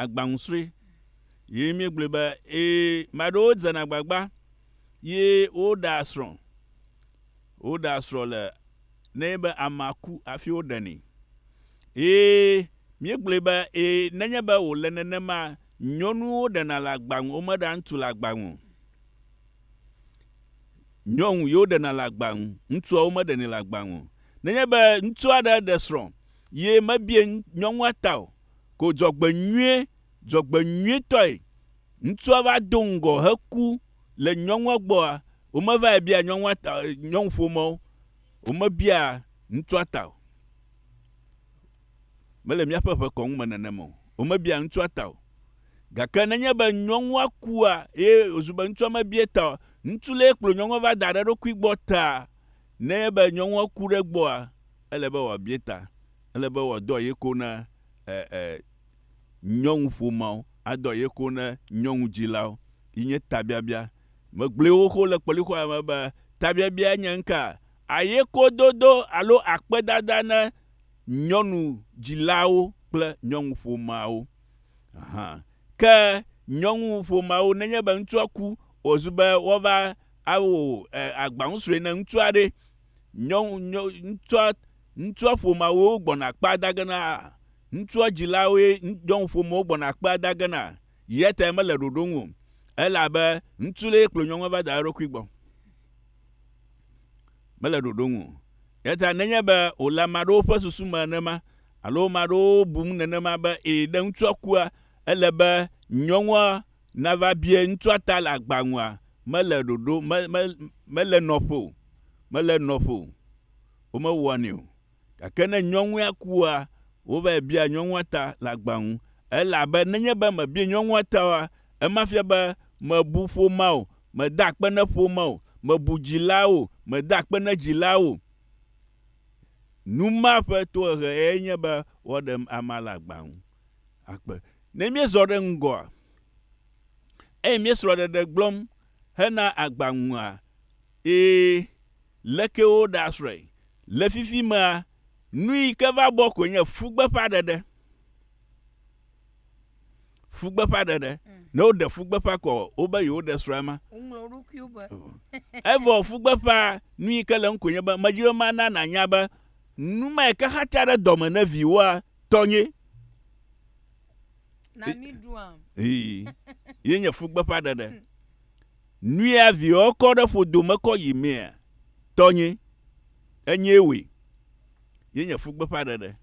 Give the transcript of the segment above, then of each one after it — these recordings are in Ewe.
agbaŋusrɔ̃e ye míegblɔe be ee ame aɖewo dze agbagba ye woɖea srɔ̃. Woɖea srɔ̃ le ne be amea ku hafi woɖenɛ. Ye míegblɔe be ee nenye be wòle nenema nyɔnuwo ɖena le agba nu womeɖea ŋutsu le agba nu o. Nyɔnu ye woɖena le agba nu, ŋutsua womeɖenɛ le agba nu o. Nenye be ŋutsu aɖe ɖe srɔ̃ ye mebie nyɔnua ta o, ko dzɔgbenyuie dzɔgbenyuietɔe ŋutsua va do ŋgɔ heku le nyɔnua gbɔa, womevae bia nyɔnua ta, nyɔnuƒomɔwo, womebia ŋutsua ta o. Mele míaƒe ʋe kɔnu me nenema o. Womebia ŋutsua ta o. Gake nenye be nyɔnua kua eye wòzu be ŋutsua mebie ta o, ŋutsu lee kplɔ nyɔnua va da ɖe eɖokui gbɔ taa, nenye be nyɔnua ku ɖe egbɔa, ele be wòabia ta, ele be wòadɔ aye ko na e, e, nyɔnuƒomeawo, adɔ aye ko na nyɔnudzilawo. Yi nye tabiabia. Megblɔe xoxo le kpɔlixɔa me be tabiabia nye ŋka, ayekododo alo akpedada na nyɔnudzilawo kple nyɔnuƒomeawo. Aha. Ke nyɔnuƒomeawo, nenye be ŋutsua ku, wòzu be woava awo e, agbaŋusrɔ̃e na ŋutsua ɖe, nyɔnu, nyɔ, ŋutsua, ŋutsua ƒomeawo gbɔna kpea dage na, ŋutsua dzilawoe nyɔnu ƒomewo gbɔna kpea dage na, yatae mele ɖoɖo ŋu o. Ele abe ŋutsu ɖee kplɔ nyɔnua va da eɖokui gbɔ. Mele ɖoɖo ŋu o. Yata nenye be wòle ame aɖewo ƒe susu me nenema, alo ame aɖewo bum nenema be, ee, ne ŋutsua kua, ele be nyɔnua Nava bie ŋutsua ta le agba ŋua, mele ɖoɖo, me, me, mele nɔƒe o. Mele nɔƒe o. Womewɔnɛ o. Gake ne nyɔnua kua, wovae bia nyɔnua ta le agba ŋu. Elabe nenye be mebie nyɔnua ta oa, ema fia be mebu ƒomea o, mede akpe ne ƒomea o, mebu dzilaa o, mede akpe ne dzilaa o. Nu ma ƒe tohehe yae nye be woɖem amea le agba ŋu. akpe. Ne míezɔ ɖe ŋgɔa eye míesrɔ̃ɖeɖe gblɔm hena agba ŋua, ɣe leke woɖasrɔ̃e? Le fifimea, nuyi ke va bɔ koe nye fugbeƒãɖeɖe. Fugbeƒãɖeɖe. Ne woɖe fugbeƒã kɔ wobe yewoɖe srɔ̃a ma. Woŋlɔ wo ɖokuiwo be. Evɔ fugbeƒã, nuyi ke le eŋu koe nye be, medi be mana nànya be, numae ke xatsa ɖe dɔme ne viwòa Tɔnye. Na mi ɖuam. Ii. Ye nye fugbeƒa ɖeɖe. Hmm. Nuya viɔ kɔ ɖe ƒodo me kɔ yi mea. Tɔnye. Enye woe. Ye nye fugbeƒa ɖeɖe.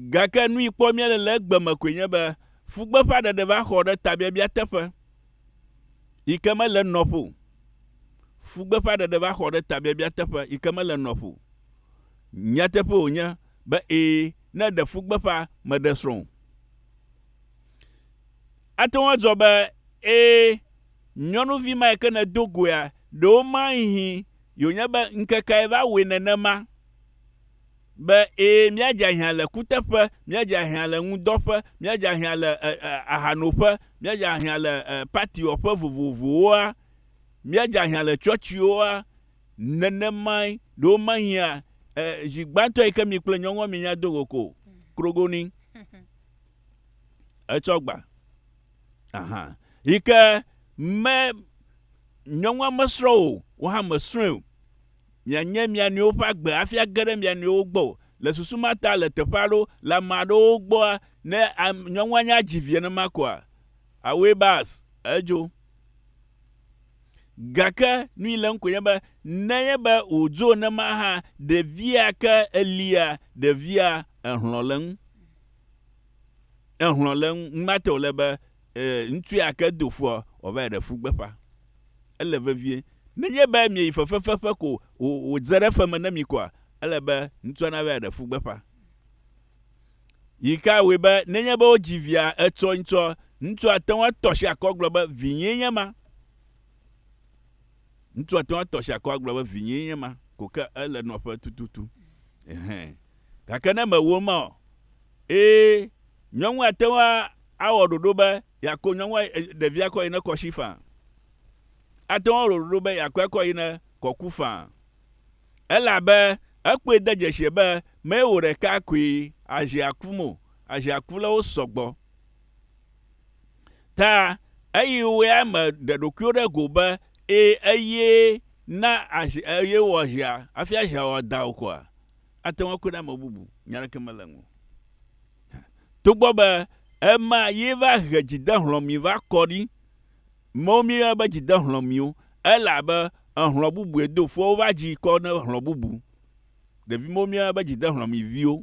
Gake nu yi kpɔ mía le le egbe me koe nye be fugbeƒa ɖeɖe va xɔ ɖe tabiabia teƒe yi ke mele nɔƒo. Fugbeƒa ɖeɖe va xɔ ɖe tabiabia teƒe yi ke mele nɔƒo. Nyateƒe wònye be ee, ne eɖe fu gbeƒã meɖe srɔ̃ o. Ate ŋu adzɔ be ee, nyɔnuvi ma yi ke nèdo goea, ɖe woma hihi yewònye be ŋkekae va wɔe nenema, be ee, míadze ahiã le kuteƒe, míadze ahiã le ŋudɔƒe, míadze ahiã le ahanoƒe, míadze ahiã le patiwɔƒe vovovowoa, míadze ahiã le tsɔtsiwoa, Nenemae, ɖe womehiã e, zi gbãtɔ yi ke mi kple nyɔnua mienya do go ko o. Krogoni. Etsɔ gba. Aha. Yi ke me nyɔnua mesrɔ̃ o, wò hã mèsrɔ̃e o. Mianye mia nɔewo ƒe agbe hafi age ɖe mia nɔewo gbɔ o. Le susu ma ta, le teƒe aɖewo, le ame aɖewo gbɔa, ne am, nyɔnua nya dzi vi nenema koa, awɔe bas, edzo. Gake nu yi le ŋkɔ nye be nenye be wòdzo nema hã, ɖevia ke elia, ɖevia ehlɔ̃ le ŋu. Ehlɔ̃ le ŋu. Ŋmate wòle be ŋutsu ya ke do fua wòava yi ɖe fu gbeƒã. Ele vevie. Nenye be mieyi fefefefe ko wòdze ɖe fe me na mi koa, ele be ŋutsua nava yi ɖe fu gbeƒã. Yi kae wɔe be nenye be wodzi via etsɔe ŋutɔ, ŋutsua ate ŋu atɔ asi akɔ agblɔ be, Vinyee nye ema? Ŋutsua ate ŋu atɔ asi akɔ agblɔ be, Vinyee nye ema, ko ke ele nɔƒe tututu. Ɛhɛ̃. Gake ne mewɔ ema o, ẽ, nyɔnua ate ŋu awɔ ɖoɖo be yeako nyɔnua, ɖevia kɔ yi ne kɔ si faa. Ate ŋu awɔ ɖoɖo be yeakɔe kɔ yi ne kɔ ku faa. elabe ekpɔe de dzesi be mee wò ɖeka koe azi akum o, azi aku le wo sɔgbɔ. Ta eyi woea me ɖe ɖokuiwo ɖe go be, e, eye na azi, eye wɔ zia, afia zia wɔ dao koa, ate ŋu akue ɖe ame bubu, nya ɖeke mele ŋu. Togbɔ be ema ye va he dzidehlɔ̃mi va kɔ ɖi, Mɔwo míeyɔna be dzidehlɔ̃miwo ele abe ehlɔ̃ bubu ene do fua wova dzi kɔ ne hlɔ̃ bubu. Ɖevi mɔwo míeyɔna be dzidehlɔ̃miviwo.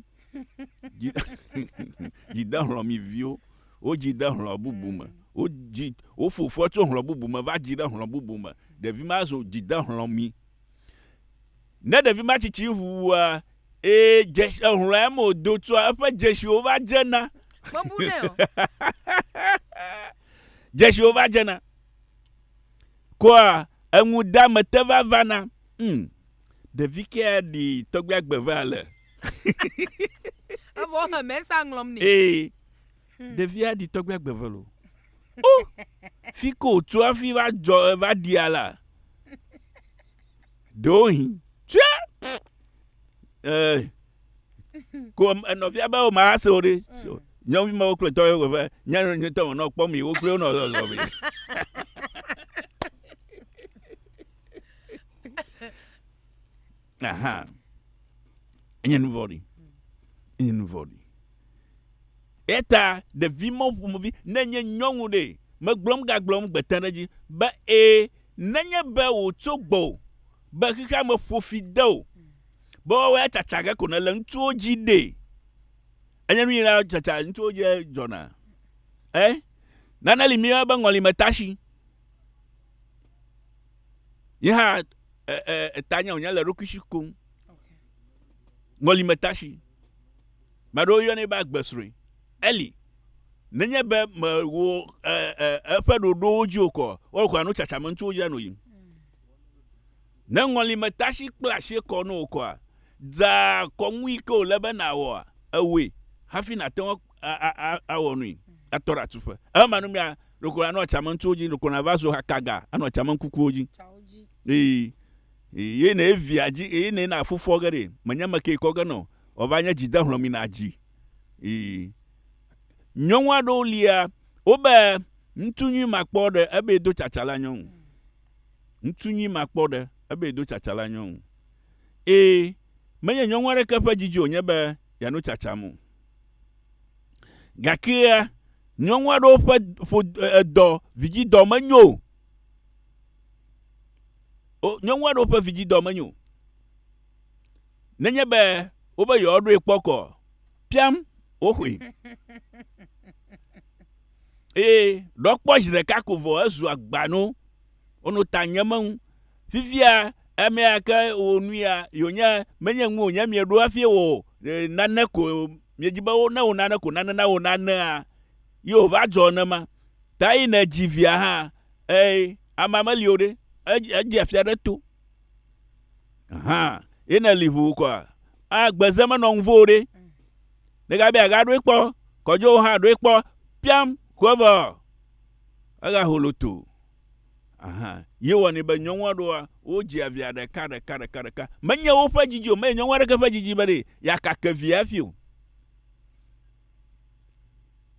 dzidehlɔ̃miviwo. Wodzi de hlɔ̃ bubu me. Wodzi, wofo fua tso hlɔ̃ bubu me va dzi ɖe hlɔ̃ bubu me. Ɖevi ma zu dzidehlɔ̃mi. Ne ɖevi ma tsitsi ŋuwua, ee, dzesi ehlɔ̃a me wòdo tsɔa eƒe dzesiwo va dzena. Mebu nɛ o. dzesiwo va dzena. Kɔa eŋudamete va vana. Hmm. Ɖevi ke aɖi tɔgbi agbe va ale. Evɔ he mɛsa ŋlɔm nɛ. Ee. Hmm. Ɖevi aɖi tɔgbi agbe ve lo. O! Fi ko wòtso hafi va dzɔ va ɖia la. Ɖewohĩ tsɛ ko enɔvia be wòma ase o ɖe. Mm. Nyɔvi ma wokple tɔ ye wòve nyanu nyuitɔ me nɔ kpɔm yi wokple wonɔ zɔzɔ me. Aha. Enye nu vɔ̃ɖi. Enye nu vɔ̃ɖi. Eta ɖevi mɔ ƒomevi ne nye nyɔnu ɖe megblɔm gagblɔm gbete ɖe edzi be ee Nenye be wòtso gbɔwò be xexeame ƒo fi de wò be woawɔe atsatsa ge ko nèle ŋutsuwo dzi ɖee. Enye nu nyui na tsatsa ŋutsuwo dzi dzɔna. Ẽ, nane li míeyɔna be ŋɔlimetashi. Nye hã e, e, eta nye wònye le eɖokui si kom. Ŋɔlimetashi. Ame aɖewo yɔnɛ be agbesrɔ̃e. Eli, nenye be mèwɔ eƒe ɖoɖowo dzi o kɔ, woawo kɔa nu tsatsa me ŋutsuwo dzra no yim. Ne ŋɔli me tasi kple asi kɔ no wò kɔa, dza kɔnu yi ke wòle be nàwɔa, ewɔe hafi nàte ŋu awɔ nui atɔ ɖe atuƒe. Eme manumea, ɖeko nànɔ tsame ŋutsuwo dzi, ɖeko nàva zu hakaga anɔ tsame kukuwo dzi. Ii, Eye ne via dzi, eye ne na fufɔ ge ɖe, menye ame ke kɔ ge nɔ, wòava nye dzi de hlɔ̃ mi na dzi. Nyɔnu aɖewo lia wobe ŋutsu nyui makpɔ ɖe ebe do tsatsa la nyɔnu. Ŋutsu nyui makpɔ ɖe ebe do tsatsa la nyɔnu. Eye menye nyɔnu aɖeke ƒe didi wònye be yeano tsatsam o. Gakea, nyɔnu aɖewo ƒe ƒo edɔ vidzidɔ menyo o. Nyɔnu aɖewo ƒe vidzidɔ menyo o. nenye be wobe yewoaɖoe kpɔ kɔ piam woxoe. Eye ɖɔ kpɔ zi ɖeka ko vɔ ezu agbano. Wonɔ ta nye meŋu. Fifia emea ke wo nu ya yonye menye ŋu wonye mieɖo hafi wɔ nane ko miedzi be wo ne wo nane ko nane na wo nanea ye wova dzɔ nema. Ta yi ne dzi via hã eye amea meli o ɖe edze afia ɖe to. Ahan, ye ne li ʋu kɔa, a gbeze menɔ ŋuvo ɖe. Ne gabe a ga ɖoe kpɔ, kɔjɔ ha ɖoe kpɔ, piam, kuevɔ. A ga holo to. Ahan, ye wɔ ni be nyɔnua ɖoa, wo dzi a via ɖeka, ɖeka, ɖeka, ɖeka. Menye wo ƒe djidji o, menye nyɔnua ɖeke ƒe djidji be ɖe ya kake via efi o.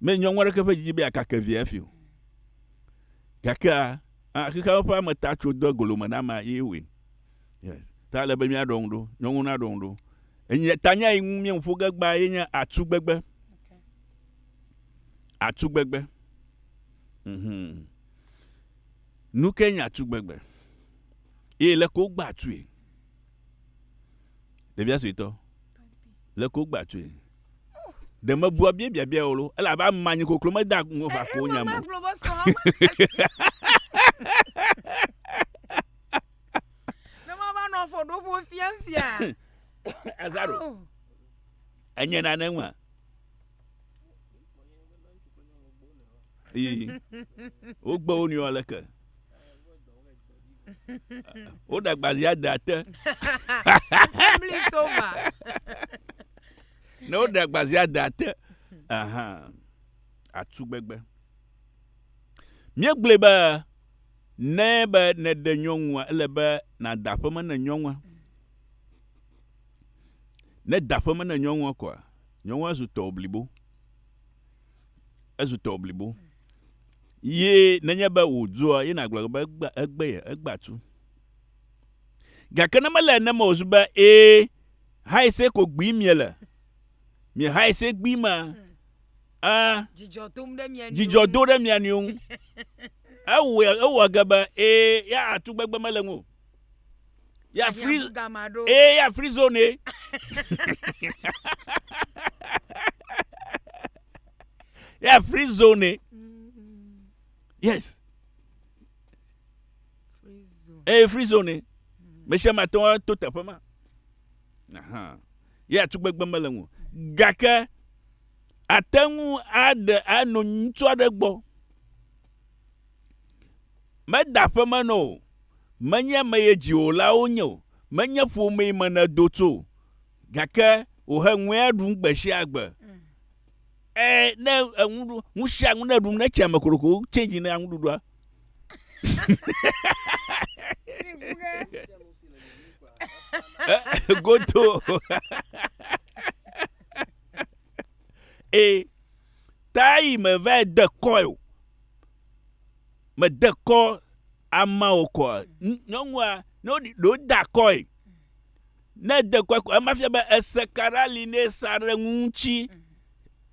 Menye nyɔnua ɖeke ƒe djidji be ya kake via efi o. Gakea, Ah, xexeame ƒe ame ta tso do egolo me na ame ye wɔe. Yes. Ta ele be míaɖɔ ŋu ɖo, nyɔnu naɖɔ ŋu ɖo. Enye tanya yi ŋu míeŋu ƒo ge gbaa ye nye atugbegbe. Atugbegbe. Mhm. Nu ke nye atugbegbe? Ye le ko gba atue. Ɖevia suetɔ. Le ko gba atue. ɖe mebua bia biabia o lo elabe ame anyi koklo meda ŋu va ko nya me. ne mava nɔ afɔ ɖo ƒo fiafia. azaro oh. enye nane ŋua. eye wogbe wo nuyɔ leke. woɖe agbazia de ate Assembly is over. ne woɖe agbazia de ate aha atu gbegbe míegblɔe be ne be nèɖe nyɔnua ele be nàda aƒeme ne nyɔnua ne da aƒeme ne nyɔnua kɔa nyɔnua zu tɔwò blibo ezu tɔwò blibo. Ye nenye be wòdzua, ye nàgblɔ be egbea, egbea, egbea tu. Gake ne mele ene me wòzu be ee, hae se ko gbee miele. Mie hae se gbee ma, a, Dzidzɔ tom ɖe mia nɔewo dzidzɔ do ɖe mia nɔewo ŋu. Ewɔe, ewɔa ge be ee, ya atu gbegbe mele ŋu o. ya free ee ya free zone ee. ya free zone ee. Mm-hmm. yes ee free zone ee. mesia ma tɔ to teƒe ma ya tugbegbe mele ŋu gake ate ŋu aɖe ano ŋutsu aɖe gbɔ. Meda aƒeme nɔ o, menye ame ye dziwòlawo nye o, menye ƒomee me nèdo tso o, gake wòhe ŋue ɖum gbe sia gbe. Mm. E, ne eŋu ɖu, nu sia nu ne ɖum ne tsia me koroko change ne aŋuɖuɖua. Goto. e. tae mevae de kɔe o. Mede kɔ ama o kɔa, nyɔnua, ne woɖi ɖo da kɔe, ne de kɔe kɔ, ema fia be ese ka ɖe ali ne sa ɖe ŋu ŋuti.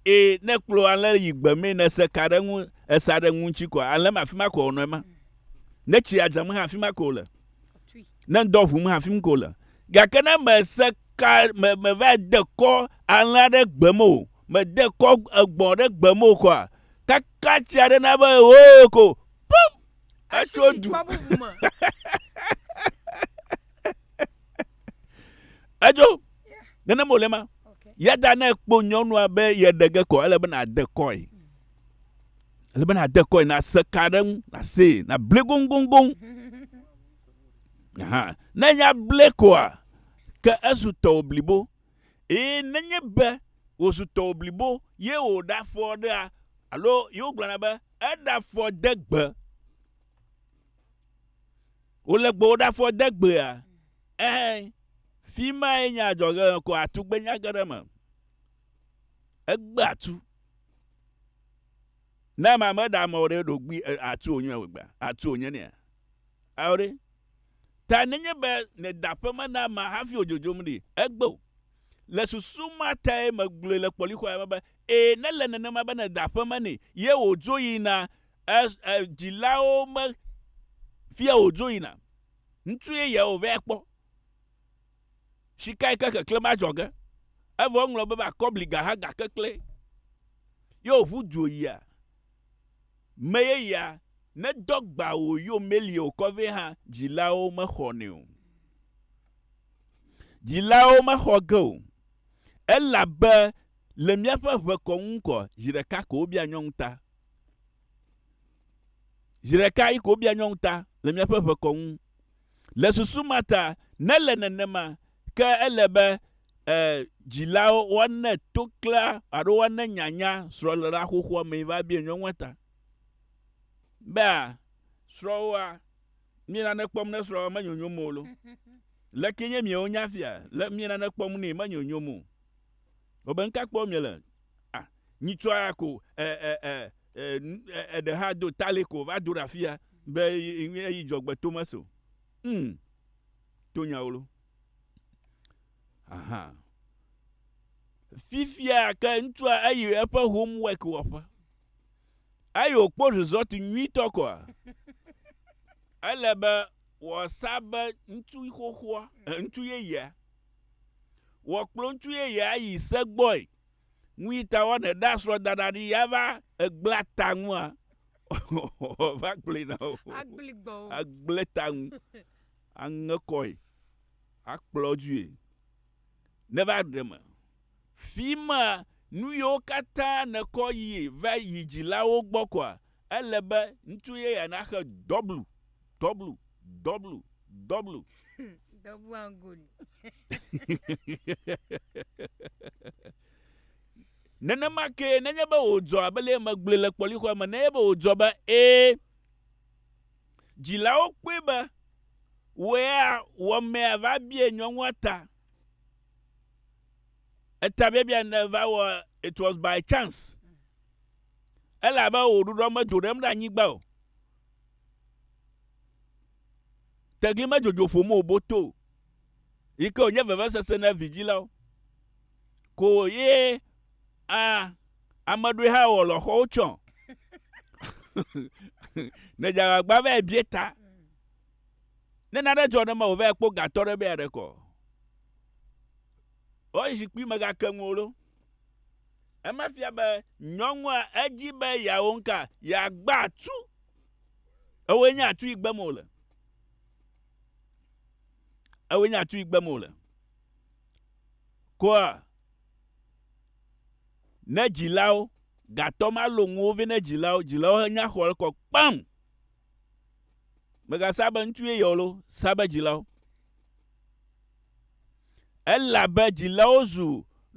Ee, ne kplɔ alẽ yi gbe mee ne ese ka ɖe ŋu, esa ɖe ŋu ŋuti kɔa, alẽ ma afi ma kɔ wònɔ ema. Ne tsi adzam hã afi ma kɔ wòle. ne ŋdɔ ʋum hafim ko le. Gake ne mese ka me meva de kɔ alẽ aɖe gbe me o, mede kɔ egbɔ aɖe gbe me o koa, kaka tsi aɖe na be hoo ko pum etso du. Edzo nenem wòle ma. Yada ne ekpɔ nyɔnua be yeɖe ge kɔ ele be nàde kɔe. Ele be nàde kɔe, nàse ka ɖe ŋu, nàsee, nàble goŋgoŋgoŋ. Aha, ne nya ble koa, ke ezu tɔwò blibo. Eye nenye be wòzu tɔwò blibo ye wòɖafɔ ɖea, alo ye wogblɔna be eɖafɔ de gbe, wòle gbewò ɖafɔ de gbea, ɛhɛ, fi mae nye adzɔge le ko atugbenya ge ɖe eme. Egbe atu. Ne ame meɖe amewo ɖe ɖogbui atu wònyɔe gbea, atu wònye nea? Ao ɖe! Ta nenye be nèda aƒe me na amea hafi wòdzodzom ɖi, egbe o. Le susu ma tae megblɔe le kpɔlixɔea me be, Ee, nele nenema be nèda aƒe me nɛ, ye wòdzo yina, e, e, dzilawo me fia wòdzo yina. Ŋutsu yeyea wòvɛ akpɔ. Sikae ke keklẽm adzɔ ge, evɔ woŋlɔ be be akɔbliga hã gake klẽ, ye wòʋu du yia. Me yeyea nedɔ gbã wò yo melie wòkɔ vɛ hã dzilawo mexɔnɛ o. Dzilawo mexɔ ge o elabe le míaƒe ʋe kɔ ŋu kɔ zi ɖeka ko wobia nyɔnu ta. Zi ɖeka yi ko wobia nyɔnu ta le míaƒe ʋe kɔ ŋu. Le susu ma ta, ne le nenema, ke ele be e, dzilawo woane to klea alo woane nyanya srɔ̃léla xoxoa mee va bia nyɔnua ta. Bea, srɔ̃woa, mie nane kpɔm ne srɔ̃woa menyonyom o lo. Leke nye miewo nya fia? Le mie nane kpɔm nɛ menyonyom o. Wobe nuka kpɔm miele? Ah, nyitsua ya ko, e, e, e, e, e, eɖe hã do tale ko va do ɖe afi ya be eyi dzɔgbe to me so. Hmm, to nyawolo. Aha. Fifia ke ŋutsua eyi eƒe homework wɔƒe. Eyi wòkpɔ result nyuitɔ kɔa. Ele be Wɔ sa be ŋutsu xoxoa, ŋutsu yeyea. Wɔ kplɔ ŋutsu yeyea yi se gbɔe. Nu yi ta wɔnɛ ɖa srɔ̃ daɖa ɖi ya va egbla ta ŋua. Wɔ va kplɔe na wo. Agbli gbɔ wo. Agble ta ŋu. Aŋe kɔe. Akplɔ due. Ne va ɖe me. Fi ma nu yiwo katã nekɔ yi va yi dzilawo gbɔ kɔa, Ele be ŋutsu yeyea naxe dɔblu, dɔblu, dɔblu, dɔblu. Dɔblu angoli. Nenema kee, nenye be wòdzɔ abe le megblɔe le kpɔlixɔa me, nenye be wòdzɔ be ee, dzilawo kpɔe be wɔea wɔmea va bia nyɔnua ta. Etabiabia ne va wɔ it was by chance. Ele abe wò ɖuɖɔ medo ɖem ɖe anyigba o. Tegli medzodzo ƒom o boto o. Yi ke wònye vevesese na vidzilawo. Ko ye a ame ɖoe hã wɔ lɔxɔwo tsɔ. ne dzagbagba va bie ta. Ne nane dzɔ ne mewò vɛ kpɔ gatɔ ɖe be aɖe kɔ. O zikpui me gake ŋuwo lo. Ema fia be nyɔnua edzi be yeawo ŋka, yeagba atu. Ewoe nye atu yi gbem wòle. Ewoe nye atu yi gbem wòle. Koa, ne dzilawo, gatɔ ma lo ŋuwo vɛ ne dzilawo, dzilawo henya xɔ ekɔ kpam. Mègasa be ŋutsu yeye o loo, sa be dzilawo. Elabe dzilawo zu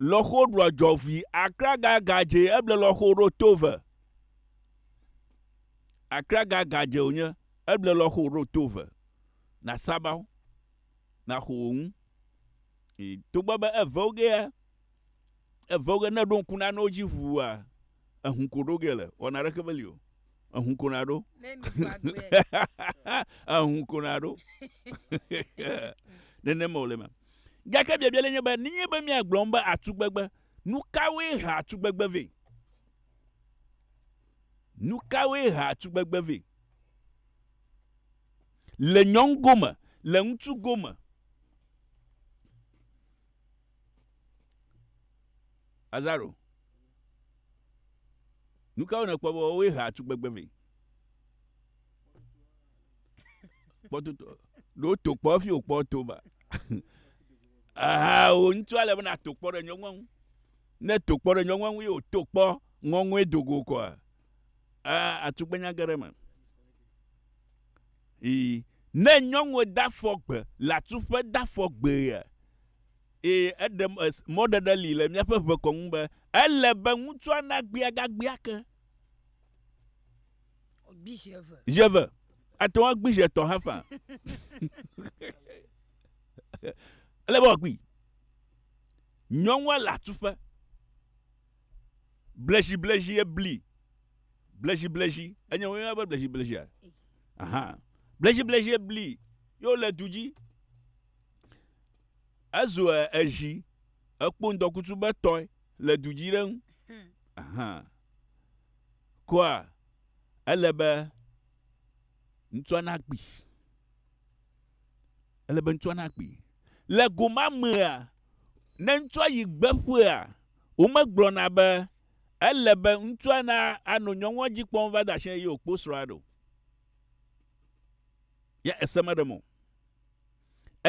lɔxo ɖua dzɔʋui, akraga gadze eble lɔxo ɖo tove. Akraga gadze wònye eble lɔxo ɖo tove. Nàsaba wo, nàxo wò ŋu. Togbɔ be eve wo gea, Evɔ ge ne èɖo ŋku nanewo dzi ʋua, ehũ ko ɖo ge le. Wɔna ɖeke meli o. Ehũ ko naɖo. ehũ ko naɖo. Nenema wòle eme. Gake biabia le nye be, nenye be míagblɔ nu be atugbegbe, nu kawoe hea atugbegbe vɛ? Nu kawoe hea atugbegbe vɛ? Le nyɔnu gome, le ŋutsu gome. Lazaro, nu kawo nèkpɔ be woawoe hea tugbegbe vɛ? Kpɔtotɔ, ɖe woto kpɔ hafi wòkpɔ to ba? Aha, wò ŋutu ale be nàto kpɔ ɖe nyɔnua ŋu. Ne èto kpɔ ɖe nyɔnua ŋu ye wòto kpɔ ŋɔŋɔe do go kɔa, aa, atugbenya ge ɖe eme. Ii, Ne nyɔnuɔ da fɔ gbe le atuƒe da fɔ gbee. Ii, Eɖe mɔɖeɖe li le míaƒe ʋekɔ ŋu be ele be ŋutsua nagbea gagbea ake. Gbi zi eve. Zi eve. Ate ŋu agbi zi etɔ̃ hã faa. Ele be wòagbee. Nyɔnua le atuƒe. Bleziblezi ebli. Bleziblezi, enye woyɔna be bleziblezia? Aha. Bleziblezi bli yo le du dzi. Ezu ezi ekpo ŋdɔkutsu be tɔe le du dzi ɖe ŋu. Hmm. Aha. Koa ele be ŋutsua na kpi. Ele be ŋutsua na kpi. Le goma mea, ne ŋutsua yi gbeƒea, womegblɔna be ele be ŋutsua na ano nyɔnua dzi kpɔm va da shi ye wòkpo srɔ̃a ɖo. Ye ese meɖe mo.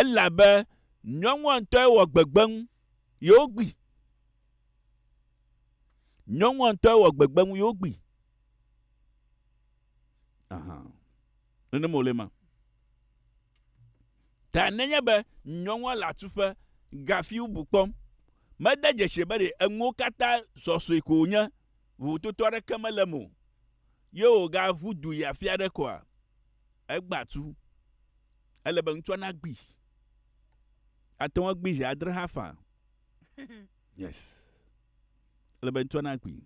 Elabe nyɔnua ŋutɔe wɔ gbegbe ŋu ye wogbi. Nyɔnua ŋutɔe wɔ gbegbe ŋu ye wogbi. Aha. Nene mo le ma. Ta nenye be nyɔnua le atuƒe ga fiubu kpɔm, mede dzesi be ɖe enuwo katã zɔzɔe ko wònye, vovototo aɖeke mele eme o, ye wògaʋu du yi afi aɖe koa? Egbea atu. Ele be ŋutsua nagbui. Ate ŋu agbui zi adre hã faa. Yes. Ele be ŋutsua nagbui.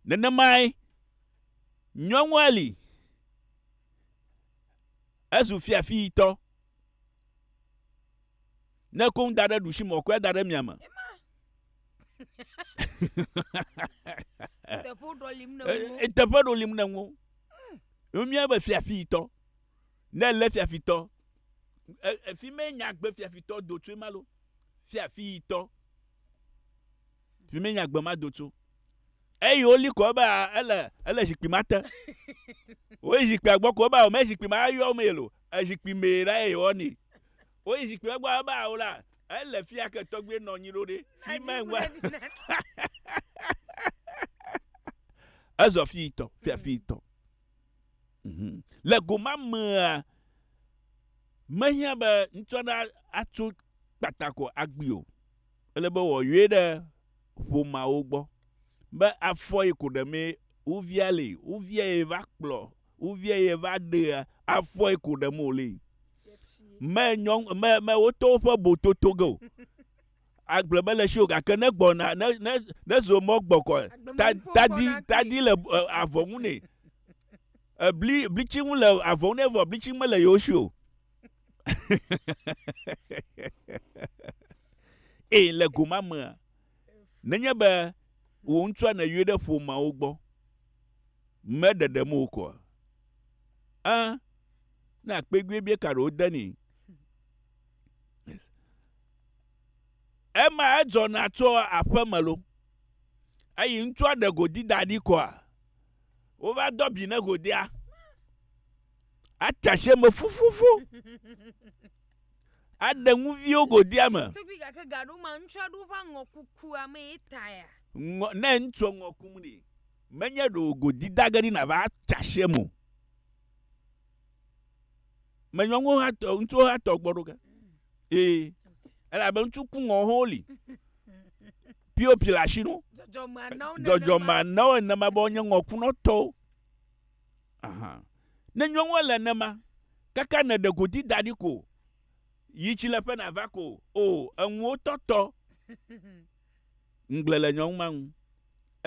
Nenemae nyɔnua li. ezu fiafitɔ. Ne koŋ da ɖe ɖusi mɔ kɔe da ɖe mia me. Teƒe ɖolim ne ŋu. Eh, teƒe ɖolim ne ŋu. Mia be fiafitɔ. Ne le fiafitɔ. Efi me nyagbe fiafitɔ do tso malo. Fiafitɔ. Fi me nyagbe ma do tso. Eyi woli ko ebe a ele ele zikpui ma te. Woyi zikpuia gbɔ ko ebe a wòme zikpui ma yɔ wo mee lo. Ezikpui mee la ye wɔ nii. Woyi zikpui ma gbɔ ebe a wola ele fia ke tɔgbe nɔ nyi ɖo ɖe. Fi ma ŋgba. Ezɔ fi tɔ fia fi tɔ. Le go ma mea, mehiã be ŋutsua ɖe atso kpata ko agbi o. ele be wòayɔe ɖe ƒomeawo gbɔ be afɔ yi ko ɖe mee wovia le yi, wovia ye va kplɔ, wovia ye va ɖea, afɔ yi ko ɖe me wòle yi. Me nyɔnu, me, me woto woƒe bototo ge o. Agble me le si o gake ne gbɔna, ne, ne, ne zo mɔ gbɔ kɔ, ta, tadi, tadi le e, avɔ ŋu nɛ. Ebli, blitsi ŋu le avɔ ŋu nɛ vɔ blitsi mele yewo si o. eye le go ma mea nenye be wò ŋutsua nèyɔe ɖe ƒomeawo gbɔ meɖeɖem o koa ɛ na kpeguebie ka ɖewo de ni ema edzɔna tso aƒe me lo eyi ŋutsua ɖe godi da ɖi koa wova dɔ bi ne godia Ate asi eme fufufu. Aɖe ŋuviwo godia me. Tugbi gake gaɖo ma ŋutsua ɖo ƒe aŋɔ kukua me ye taya. Ŋɔ ne ŋutsua ŋɔ kum ɖi. Menye ɖo godi dage ɖi na va atsa asi eme o. Menyɔ ŋuwo hã tɔ ŋutsuwo hã tɔ gbɔ ɖo ke. Ee. Elabe ŋutsu ku ŋɔ hã woli. Pio pila asi no. Dzɔdzɔme anawo nenema. Dzɔdzɔme anawo nenema be wonye ŋɔkunɔtɔwo. Aha. Ne nyɔnua le nema, kaka ne ɖe godi daɖi ko, yi tsi le ƒe na va ko, o, eŋuwo tɔtɔ. Ŋgble le nyɔnu ma ŋu.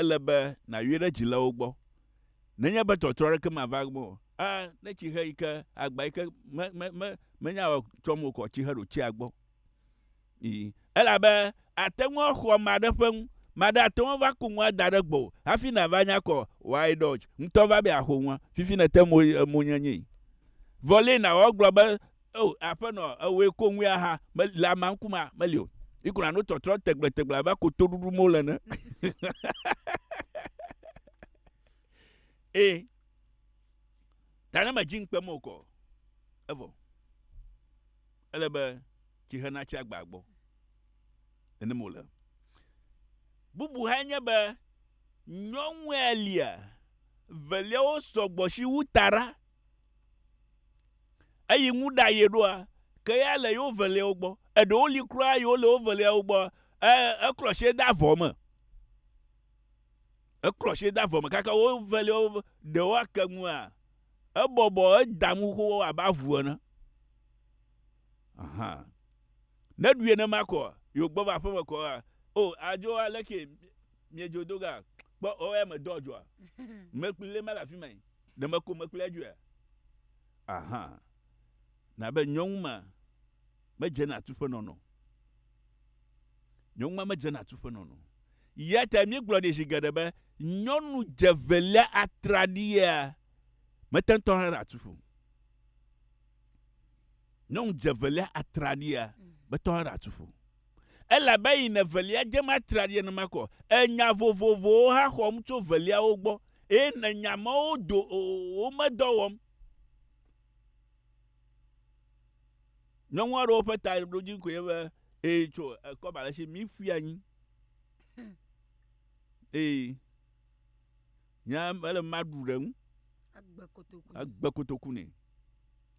Ele be na yɔe ɖe dzi le wo gbɔ. Ne nye be tɔtrɔ aɖeke ma va gbɔ, a, ne tsi xe yi ke, agba yi ke me, me, me, me nya wɔ tsɔm o kɔ, tsi xe ɖo tsia gbɔ. Ii, elabe àte ŋu axɔ ame aɖe ƒe nu. Ame aɖe ate ŋu ava ku nua da ɖe gbɔwò hafi nàva nya kɔ Why Dodge ŋutɔ va be yeaxo nua, fifi nète mo mo nye nyee. Vɔ lée nàwɔ agblɔ be, Oo, Aƒenɔ, ewòe ko ŋu ya ha, me, le amea ŋkumea, meli o. Yi ko nàno tɔtrɔ tegblẽtegblẽ abe ko to ɖuɖum wole ene. Ii, ta ne mèdzi ŋukpem o kɔ o. Evɔ ele be tsi hena tsi agbaa gbɔ. Nenem wòle. Bubu hãe nye be nyɔnu elia veliawo sɔ gbɔ si wu taɖa. Eyi ŋu ɖa ye ɖoa, ke ya le yewo veliawo gbɔ. Eɖewo li kura yiwo le wo veliawo gbɔ, e, eklɔ sie de avɔ me. Eklɔ sie de avɔ me kaka wo veliawo ɖewo ake ŋua, ebɔbɔ eda ŋu xoxo abe avu ene. Aha. Ne ɖui enema kɔ yo gbɔ va aƒe me kɔ a o adzo ale ke miedzo do ga kpɔ o ya me dɔ dzoa mekpli le mala fi mai ɖe meko mekpli adzoa. Aha. Na be nyɔnu ma me dze na tu ƒe nɔnɔ. Nyɔnu ma me dze na tu ƒe nɔnɔ. Ya ta mi gblɔ ɖe zi geɖe be nyɔnu dze velia atraɖia meteŋtɔ hã ɖe atu ƒo. Nyɔnu dze evelia atraɖia, betɔ hã ɖatu ƒo. Elabe eyi ne evelia dzem atraɖia nenema ko, enya vovovowo hã xɔm tso eveliawo gbɔ, eye ne nya mawo do o, womedɔ wɔm. Nyɔnu aɖewo ƒe taɖodzi koe nye be, ee, tso ekɔba le si, míƒui anyi. Ee. Nya ele be maɖu ɖe eŋu. Agbe kotoku. Agbe kotoku nɛ.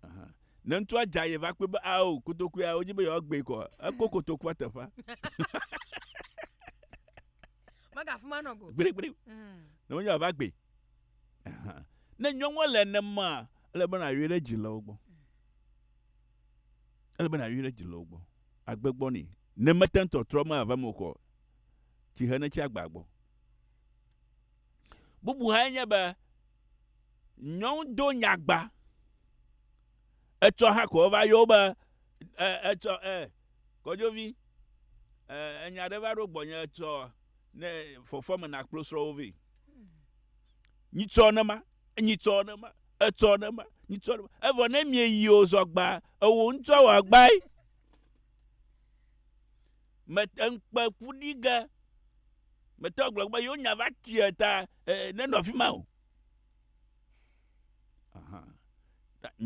Aha. Ne ŋutsua dza ye va kpɔe be ao kotoku ya wodzi be yewoagbee kɔ. Eko kotokua teƒea. Megafu ma nɔ go. Gbeɖegbeɖe. Mm. Ne wonye va gbe. Aha. Ne nyɔnua le nema ele be nayoe ɖe dzi le wo gbɔ. Ele be nayoe ɖe dzi le wo gbɔ. Agbe gbɔ nɛ. Ne mete ŋu tɔtrɔ me ava me o kɔ. Tsihe ne tsi agba gbɔ. Bubu hãe nye be nyɔnu do nyagba. Etsɔ hã ko wova yɔ wo be e, etsɔ e, kɔdzovi e, enya ɖe va ɖo gbɔnye etsɔ ne fɔfɔ me nakplo srɔ̃wo vɛ. Nyitsɔ ne ma, nyitsɔ ne ma, etsɔ ne ma, nyitsɔ ne ma. Evɔ ne mieyi o zɔgba, ewo ŋutɔ wɔ agbae. me eŋkpe ƒu ɖi ge mete gblɔ be yewo nya va tsia ta ne nɔ afi ma o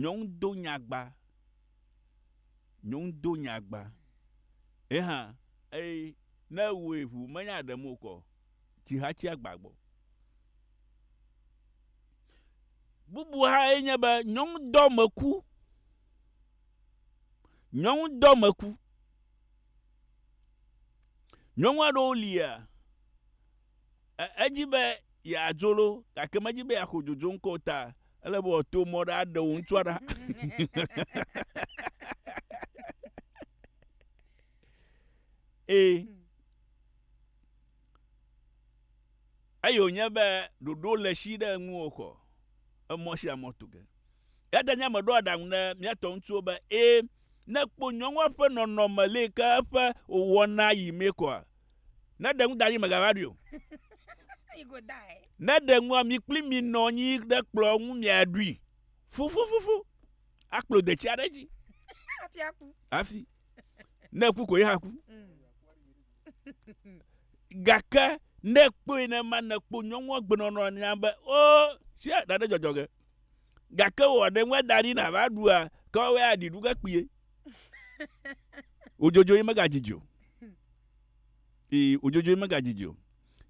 nyɔnu do nyagba nyɔnu do nyagba ye hã eye ne ewɔe ʋu menya ɖe mo kɔ tsi ha tsi agba gbɔ bubu ha ye nye be nyɔnu dɔ me ku nyɔnu dɔ me ku Nyɔnu aɖewo lia edzi be yeadzo ɖo gake medzi be yeaxɔ dzodzo ŋkɔ o ta ele be wòato mɔ ɖe aɖe wò ŋutsua ɖa. Ee. Eye wònye be ɖoɖo le si ɖe ŋuwò xɔ emɔ sia mɔ tu ge. Eya ta nye ame ɖo aɖaŋu ne míatɔ ŋutsuwo be ee Ne kpɔ nyɔnua ƒe nɔnɔme le ke eƒe wɔna yi mɛ kɔa, ne ɖe ŋu da anyi megava ɖui o. Ne ɖe ŋua mi kpli mi nɔ anyi ɖe kplɔ ŋu miaɖui fufufufu akplo detsi aɖe dzi. Hafi aku. Hafi. Ne ku ko ye haku. Gake ne kpɔe ne ma ne kpɔ nyɔnua gbenɔnɔ nya be o, sia ɖaɖe dzɔdzɔ ge. gake wò aɖe ŋue da ɖi na va ɖua ke woe aɖi ɖu ke kpie wodzodzo yi mega dzidzi o ee wodzodzo yi mega dzidzi o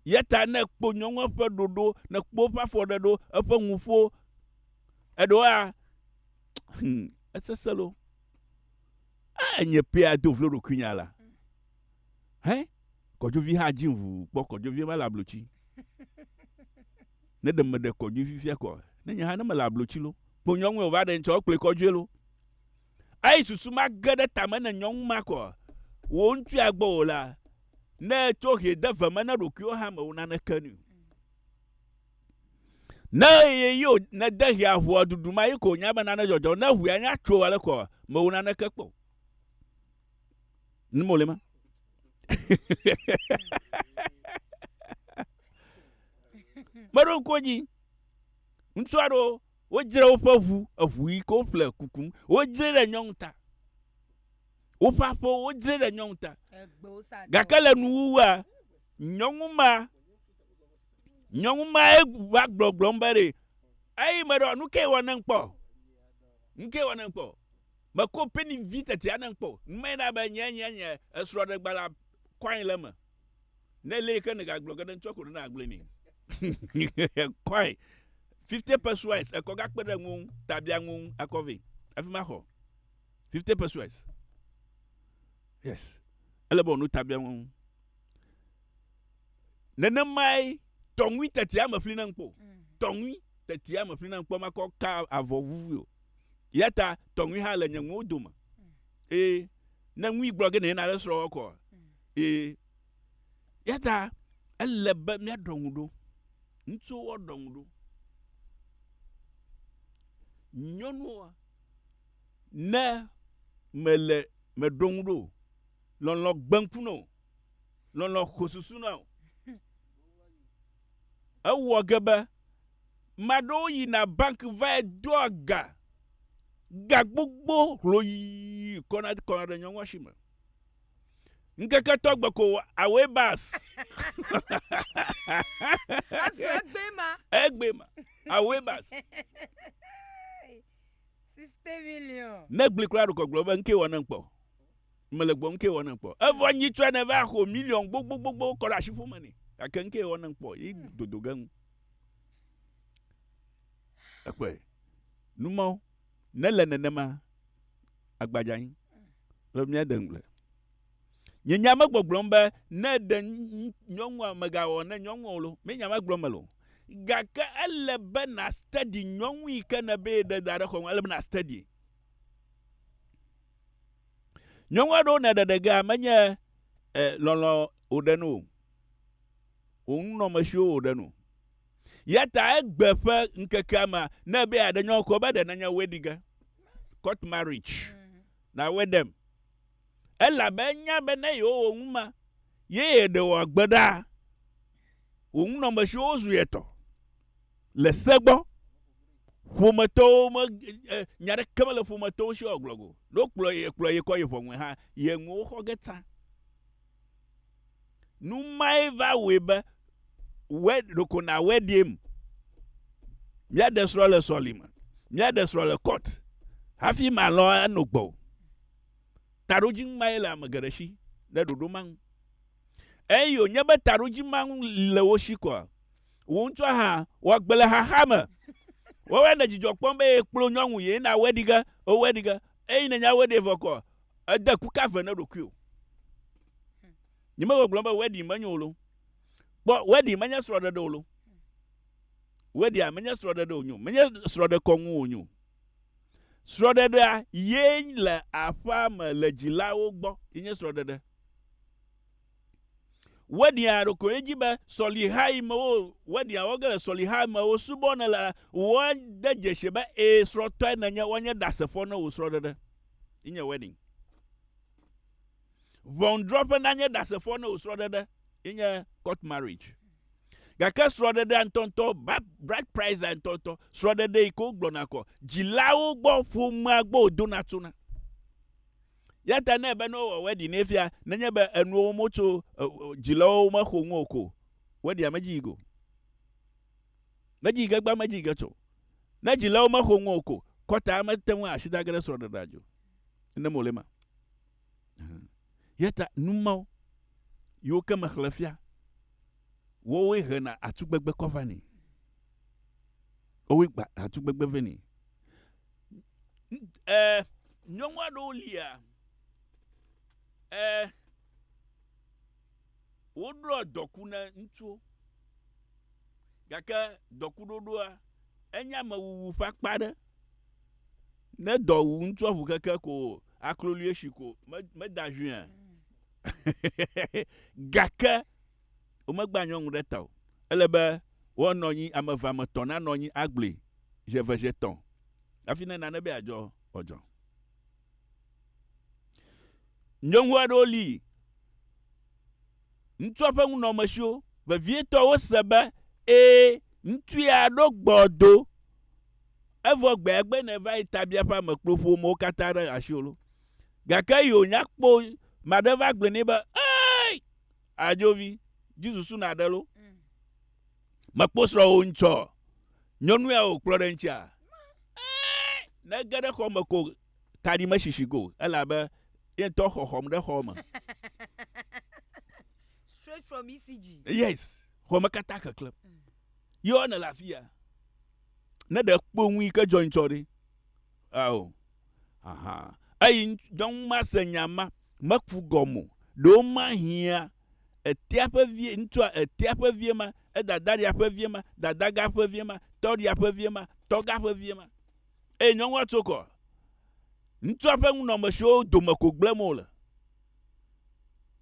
yeta ne kpo nyɔnua ƒe ɖoɖo ne kpo ƒe afɔ ɖe ɖo eƒe ŋuƒo eɖoa hmm, eseselo a enye pea do vlo ɖokuinya la Hɛ kɔdzovi hã dzi ŋu kpɔ kɔdzovi mele ablotsi. Ne ɖe me ɖe kɔdzovi fia kɔ. Ne nye hã ne mele ablotsi lo. Kpo nyɔnue o va ɖe ŋtsɔ kple kɔdzoe lo. Ayi susu ma ge ɖe tame ne nyɔnu ma kɔ. Wo ŋtsu agbɔ o la. Ne tso hie de ve me ne ɖokui wo hã me wo nane ke ni. Ne ye yo ne de hie ahua dudu ma yi ko nya be nane jɔjɔ ne hue anya tso ale kɔ me wo nane ke kpo. Nimo le ma. Meɖo ŋku dzi. Ŋutsu aɖewo wodzre woƒe ʋu, eʋu yi ke woƒle kukum, wodzre ɖe nyɔnu ta. Woƒe aƒewo wodzre ɖe nyɔnu ta. Gake le nuwuwua, nyɔnu ma, nyɔnu ma va gbɔgblɔm be ɖe, eyi meɖo nu ke wɔ ne kpɔ. Nu ke wɔ ne kpɔ. Mekɔ peni vi teti aɖe ŋu kpɔ o. Ŋmee na be nye nye nye esrɔ̃ɖegba la kɔe le eme. Ne ele yike nèga gblɔ ge ɖe ŋutsua ko ɖe na gblɔe nɛ. Ekɔe. Fifty pesuais ekɔ ga kpe ɖe ŋuwò ŋu ta bia ŋuwò ŋu akɔ vɛ hafi ma xɔ. Fifty pesuais. Yes. Ele be wò nu ta bia ŋuwò ŋu. Nenemae tɔŋui tetia me ƒli na ŋu kpɔ o. Tɔŋui tetia me ƒli na ŋu kpɔ makɔ ka avɔ vuvui o. Eya ta tɔŋui hã le nye ŋuwo dome. Ee, ne ŋui gblɔ ge nèna ɖe srɔ̃wɔ kɔ. Ee, eya ta ele be míaɖɔ ŋu ɖo. Ŋutsuwo ɖɔ ŋu ɖo. Nyɔnuwo, ne mele meɖo ŋu ɖo, lɔlɔ gbe ŋku na wò, lɔlɔ xo susu na wò. Ewɔ ge be, ame aɖewo yina bank vae doa ga, ga gbogbo hloyi kɔna kɔna ɖe nyɔnua si me. Ŋkeke etɔ̃ gbe ko away bus. Ezu egbee ma. Egbee ma. Away bus. 60 million. Ne gblẽ kura ɖukɔ gblɔ be, ŋkee wɔ ne ŋkpɔ. Mele gbɔ ŋkee wɔnam kpɔ. Evɔ nyitsɔe ne va xo miliɔn gbogbogbogbo kɔ ɖe ashi ƒome nɛ. Gake ŋkee wɔnam kpɔ yi dodo ge ŋu. Ekpɔe. Nu mawo ne le nenema agbadza anyi. Lɔ mía de ŋugble. Nye nya me gbɔgblɔm be ne ɖe nyɔnua megawɔ ne nyɔnua o lo, me nya ma gblɔm me lo. Gake ele be na study nyɔnu yi ke ne be ye ɖe da ɖe xɔ me, ele be na study. Nyɔnu aɖewo ne ɖeɖegea menye e, lɔlɔ̃ wòɖe nu o. Wò nunɔmesiwo wòɖe nu. Ya ta egbe ƒe ŋkekea mea, ne be aɖe nyɔnu kɔ be ɖe nenye wedding ge, court marriage, na wedding. Elabe enya be ne yewowɔ nu ma, ye yeɖe wòagbe ɖa. Wò nunɔmesiwo zu ye tɔ le se gbɔ. Ƒometɔwo me e, nya ɖeke mele ƒometɔwo si wòagblɔ go. Ne wokplɔ ye, kplɔ ye kɔ yi ʋɔnue hã, ye nuwo xɔ ge tsã. Nu mae va wɔe be wɛ ɖeko nawɔe ɖim. Míaɖe srɔ̃ le sɔlime, míaɖe srɔ̃ le kɔt hafi malɔ̃ ano gbɔwò. Taɖodzinu mae le ame geɖe si ɖe ɖoɖo ma ŋu. Eye wònye be taɖodzi ma ŋu le wo si koa? Wò ŋutɔ hã, wɔ agbe le xaxa me. Woawoe nèle dzidzɔ kpɔm be èkplɔ nyɔnu ye na wòɖi ge, eye wòɖi ge, eye nènya be wòɖee vɔ koa? Ède ku ka ve na ɖokuiwò? Nyemegbegblɔm be wedding menyo o lo. Kpɔ, wedding menye srɔ̃ɖeɖe o lo. Wedding menye srɔ̃ɖeɖe wònye o. Menye srɔ̃ɖekɔnu wònye o. Srɔ̃ɖeɖea ye le aƒea me le dzilawo gbɔ. Yenye srɔ̃ɖeɖe. Wedding a ɖeko ye dzi be sɔliha yi me wo wedding a wɔ ge le sɔliha yi me wosubɔ ne le woa de dzesi be ee srɔtɔe ne nye woa nye ɖasefɔ ne wo srɔɖeɖe yi nye wedding. Ʋɔnudrɔƒe na nye ɖasefɔ ne wo srɔɖeɖe yi nye court marriage. Gake srɔɖeɖea ŋtɔŋtɔ ba bride price a ŋtɔŋtɔ srɔɖeɖe yi ke wo gblɔna kɔ dzilawo gbɔ ƒomea gbɔ wo dona tsona. Eya ta ne be ne wowɔ wedding nɛ fia, nenye be enuwo wom wotso dzilawo mexo ŋu o ko, wedding medzi yi go. Medzi yi ge gbã, medzi yi ge tso. Ne dzilawo mexo ŋu o ko, kɔta mete ŋu asi da ge ɖe srɔ̃ɖeɖea dzi o. Ne mole ma. Eya ta nu mawo yiwo ke mexlẽ fia, wowoe hena atugbegbe kɔ vanɛ. Wowoe gba atugbegbe vɛ nɛ. ɛɛ, nyɔnu aɖewo lia, ɛɛ, woɖɔ dɔku ne ŋutsuwo gake dɔkuɖoɖoa enye amewuwu ƒe akpa aɖe. Ne dɔ wu ŋutsua ŋu keke ko aklolue si ko me meda ŋui a? gake. Womegbea nyɔnu ɖe ta o. Ele be woanɔ anyi, ame eve, ame etɔ̃ nanɔ anyi agblɔe zi eve, zi etɔ̃ hafi ne nane be yeadzɔ wòadzɔ. Nyɔnu aɖewo li, ŋutsua ƒe nunɔamesiwo vevietɔ wose be, ẽ, ŋutsu ya ɖo gbɔ do, evɔ gbea gbe ne va yi tabiaƒea me kplo ƒomewo katã ɖe asiwò lo. Gake yi wònya kpɔ o, ame aɖe va gblɔe nɛ be, Ey! Adzovi, dzi susu na ɖe lo. Mm. Mekpɔ srɔ wo ŋtsɔ. Nyɔnu ya o kplɔ ɖe ŋtsia. Eh, ne ge ɖe xɔ me ko kaɖi me shishi go. Ela be ye ŋtɔ xɔxɔm ɖe xɔ me. Straight from ECG. Yes, xɔ me kata keklem. Mm. Yɔ ne la fia. Ne ɖe kpo ŋui ke dzɔ ŋtsɔ ɖe. Ao, ahan. Eyi nyɔnu ma se nya ma, meku gɔme o. Ɖewo mahiã etea ƒe vie, ŋutsua etea ƒe vie ma, edadaɖia ƒe vie ma, dadaga ƒe vie ma, tɔɖia ƒe vie ma, tɔga ƒe vie ma. Eye nyɔnua tso kɔ. Ŋutsua ƒe nunɔmesiwo dome ko gblẽm wòle.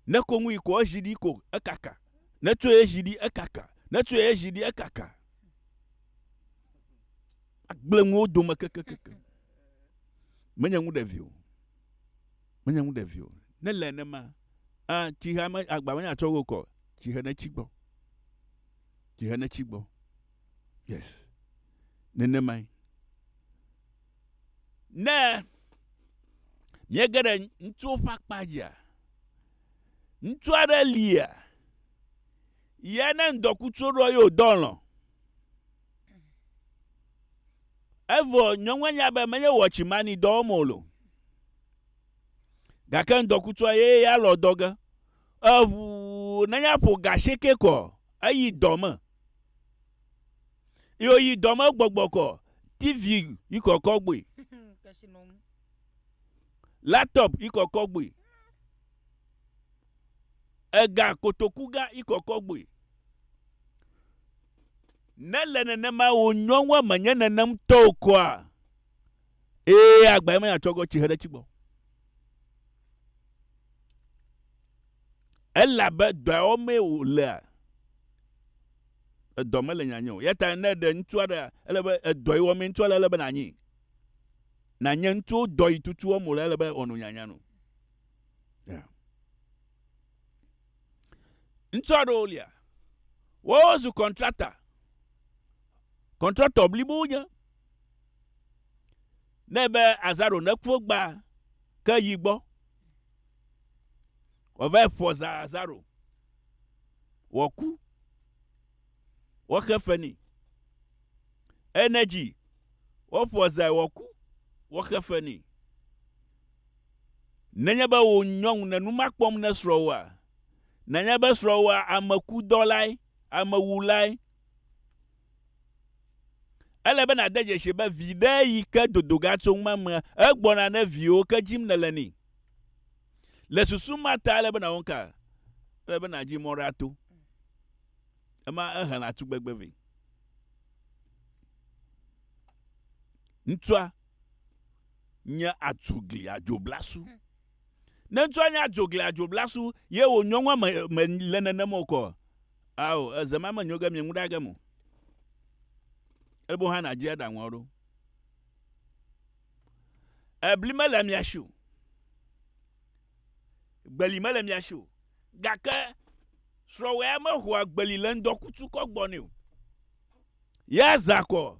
Ne ko ŋui ko ezi ɖi ko ekaka. Ne tsoe ezi ɖi ekaka. Ne tsoe ezi ɖi ekaka. Agblẽ ŋu wo dome kekekeke. Menye ŋu ɖevi o. Menye ŋu ɖevi o. Ne le nenema, ah, tsihe ame agba menye atsɔ wo kɔ. Tsihe ne tsi gbɔ. Tsihe ne tsi gbɔ. Yes. Nenemae. Ne míege ɖe ŋutsuwo ƒe akpa dzia, ŋutsu aɖe lia, ya ne ŋdɔkutsu ɖɔ ye wòdɔ lɔ. Evɔ nyɔnua nya be menye wɔ tsimani dɔ wɔm o lo. Gake ŋdɔkutsua ye ya lɔ dɔ ge. Eʋu nenye aƒo gashieke kɔ eyi dɔ me. Yo yi dɔ me gbɔgbɔ kɔ TV yi kɔkɔ gbui. Laptop yi kɔkɔ gbui. Ega kotoku ga yi kɔkɔ gbui. Ne le nenema wò nyɔnua menye nenem tɔ o koa, ee agbae me atsɔ gɔ tsihe ɖe tsi gbɔ. Elabe dɔa wɔm mee wòlea, edɔ mele nyanya o. Ya ta ne ɖe ŋutsu aɖe ele be edɔ yi wɔm mee ŋutsua le ele be nanyi. Nanye ŋutsu dɔ yi tutu wɔm wòle ele be wòano nyanya no. Yeah. Ŋutsu aɖewo lia. Woawo zu kɔntrakta. Kɔntrakta blibo wonye. Ne be azaro neku gba ke yi gbɔ. Wòava ƒo za azaro. Wòku. Woaxe fe nɛ. Enedzi, woƒo zae wòku, woaxe fe nɛ. Nenye be wò nyɔnu le nu ma kpɔm ne srɔ̃wòa? Nenye be srɔ̃wòa ame kudɔlae, ame wulae? Ele be nàde dzesi be viɖe yi ke dodo ga tso ŋma me egbɔna ne viwo ke dzim nèle ni. Le susu ma ta ele be nàwɔ nuka? Ele be nàdzi mɔ ɖe ato. Ema ehena tugbegbe vɛ. Ŋutsua nye adzogliadzoblasu. Ne ŋutsua nye adzogliadzoblasu ye wò nyɔnua me me le nenem o kɔ, ao eze ma menyo ge mieŋu ɖe age me o. Ebo hã nàdzi aɖaŋua ɖo. Ebli mele mia si o. Gbeli mele mia si o. Gake srɔ̃wɔea mexɔa gbeli le ŋdɔkutsu kɔ gbɔ nɛ o. Ya zã kɔ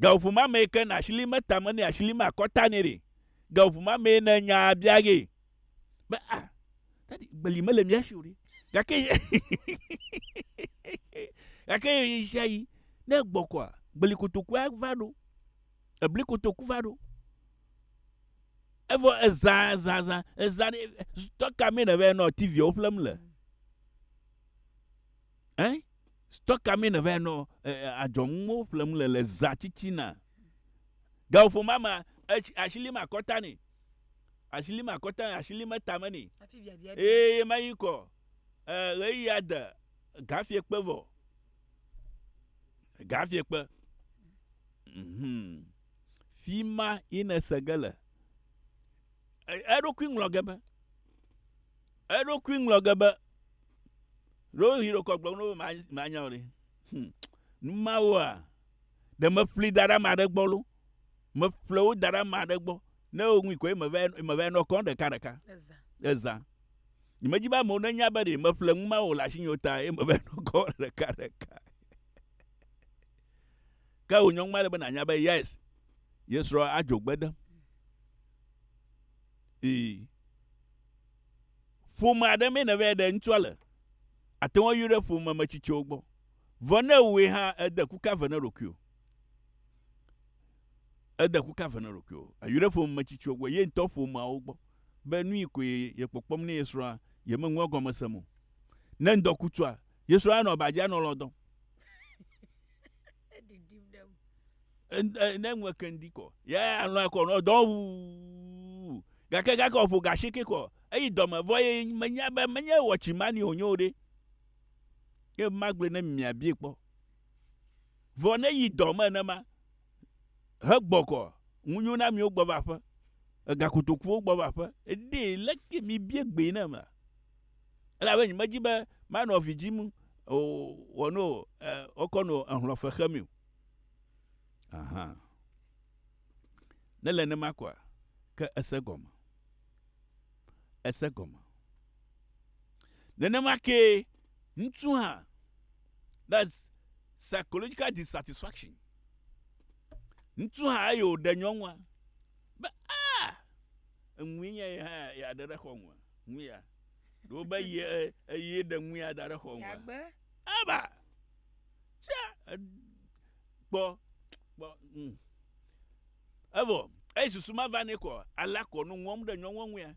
Gaƒoƒo ma mee ke na asili me tame nɛ, asili me akɔta nɛ ɖe. Gaƒoƒo ma mee ne nyaa bia ge. Be a, ah, dadi gbeli mele mía si o ɖe. Gake gake yi sia yi ne gbɔkɔa, gbeli kotoku ava ɖo. Ebli kotoku va ɖo. Evɔ ezã zã zã ezã ɖe tɔka mee ne vɛ nɔ TV wo ƒlem le. Hein? Stɔ ka mee nèvae nɔ adzɔnuwo ƒlem le le zã tsitsina? Gaƒomea mea, etsi asi lim akɔta nɛ. Asi lim akɔta nɛ, asi lim etame nɛ. Eye ye ma yi kɔ ɣeyiɣia de gafiekpe vɔ. Gafiekpe. Mhm. Fi ma yi nèse ge le. Eɖokui ŋlɔ ge be. Eɖokui ŋlɔ ge be. ɖo yi ɖokɔ gblɔm no manya o ɖe hmm. numawoa ɖe meƒli da ɖe ame aɖe gbɔ lo meƒle wo da ɖe ame aɖe gbɔ ne woŋui ko mevɛ nɔ kɔ ɖeka ɖeka eza nyemedzi be amewo nenya be ɖe meƒle nu mawo le asi nyo ta ye mevɛ nɔ kɔ ɖeka ɖeka ke wò nyɔnu ma le be nanya be yes yesrɔ adzogbe dem ee Ƒome aɖe mee nèvae ɖe ŋutsua le. Àte ŋu ayi ɖe ƒomemetsitsiwo gbɔ. Vɔ ne ewɔe hã, ède ku ka ve na ɖokuiwò? Ède ku ka ve na ɖokuiwò? Èyi ɖe ƒomemetsitsiwo gbɔ, ye ŋutɔ ƒomeawo gbɔ be nui koe yekpɔkpɔm ne ye srɔ̃a yemeŋu egɔme sem o. Ne ŋdɔkutsua, ye srɔ̃a anɔ aba dzi anɔ lɔ̃ dɔm. ne ŋu keŋdi kɔ ya alɔ akɔ nɔ dɔ wu gake gake ɔƒo gashi ke kɔ eyi dɔme vɔ ye menya be menye wɔtsi mani o nyo ɖe ye magblɔ ne miabie kpɔ vɔ ne yi dɔme ne ma he gbɔkɔ ŋunyo na miwo gbɔ va ƒe egakotokuwo gbɔ va ƒe eɖe leke mi bie gbe ne ma Elabe nyemedi be manɔ vi dzim o, wɔ no wokɔ no ehlɔ̃ fe xe mi o. Aha! Ne le nenema koa, ke ese gɔme. Ese gɔme. Nenema kee ŋutsu hã, that's psychological dissatisfaction. Ŋutsu hã eye wòɖe nyɔnua be, Ah! Eŋue nye ye hã yeaɖe ɖe xɔ̃ ŋua? Ŋuya. Ɖewo be ye eye ɖe ŋuya da ɖe xɔŋua. Yagbe. Aba. Tsia. Kpɔ. Kpɔ. Mm. Evɔ. Eyi susu ma va ne kɔ. Ala kɔ nu ŋɔm ɖe nyɔnua ŋuya.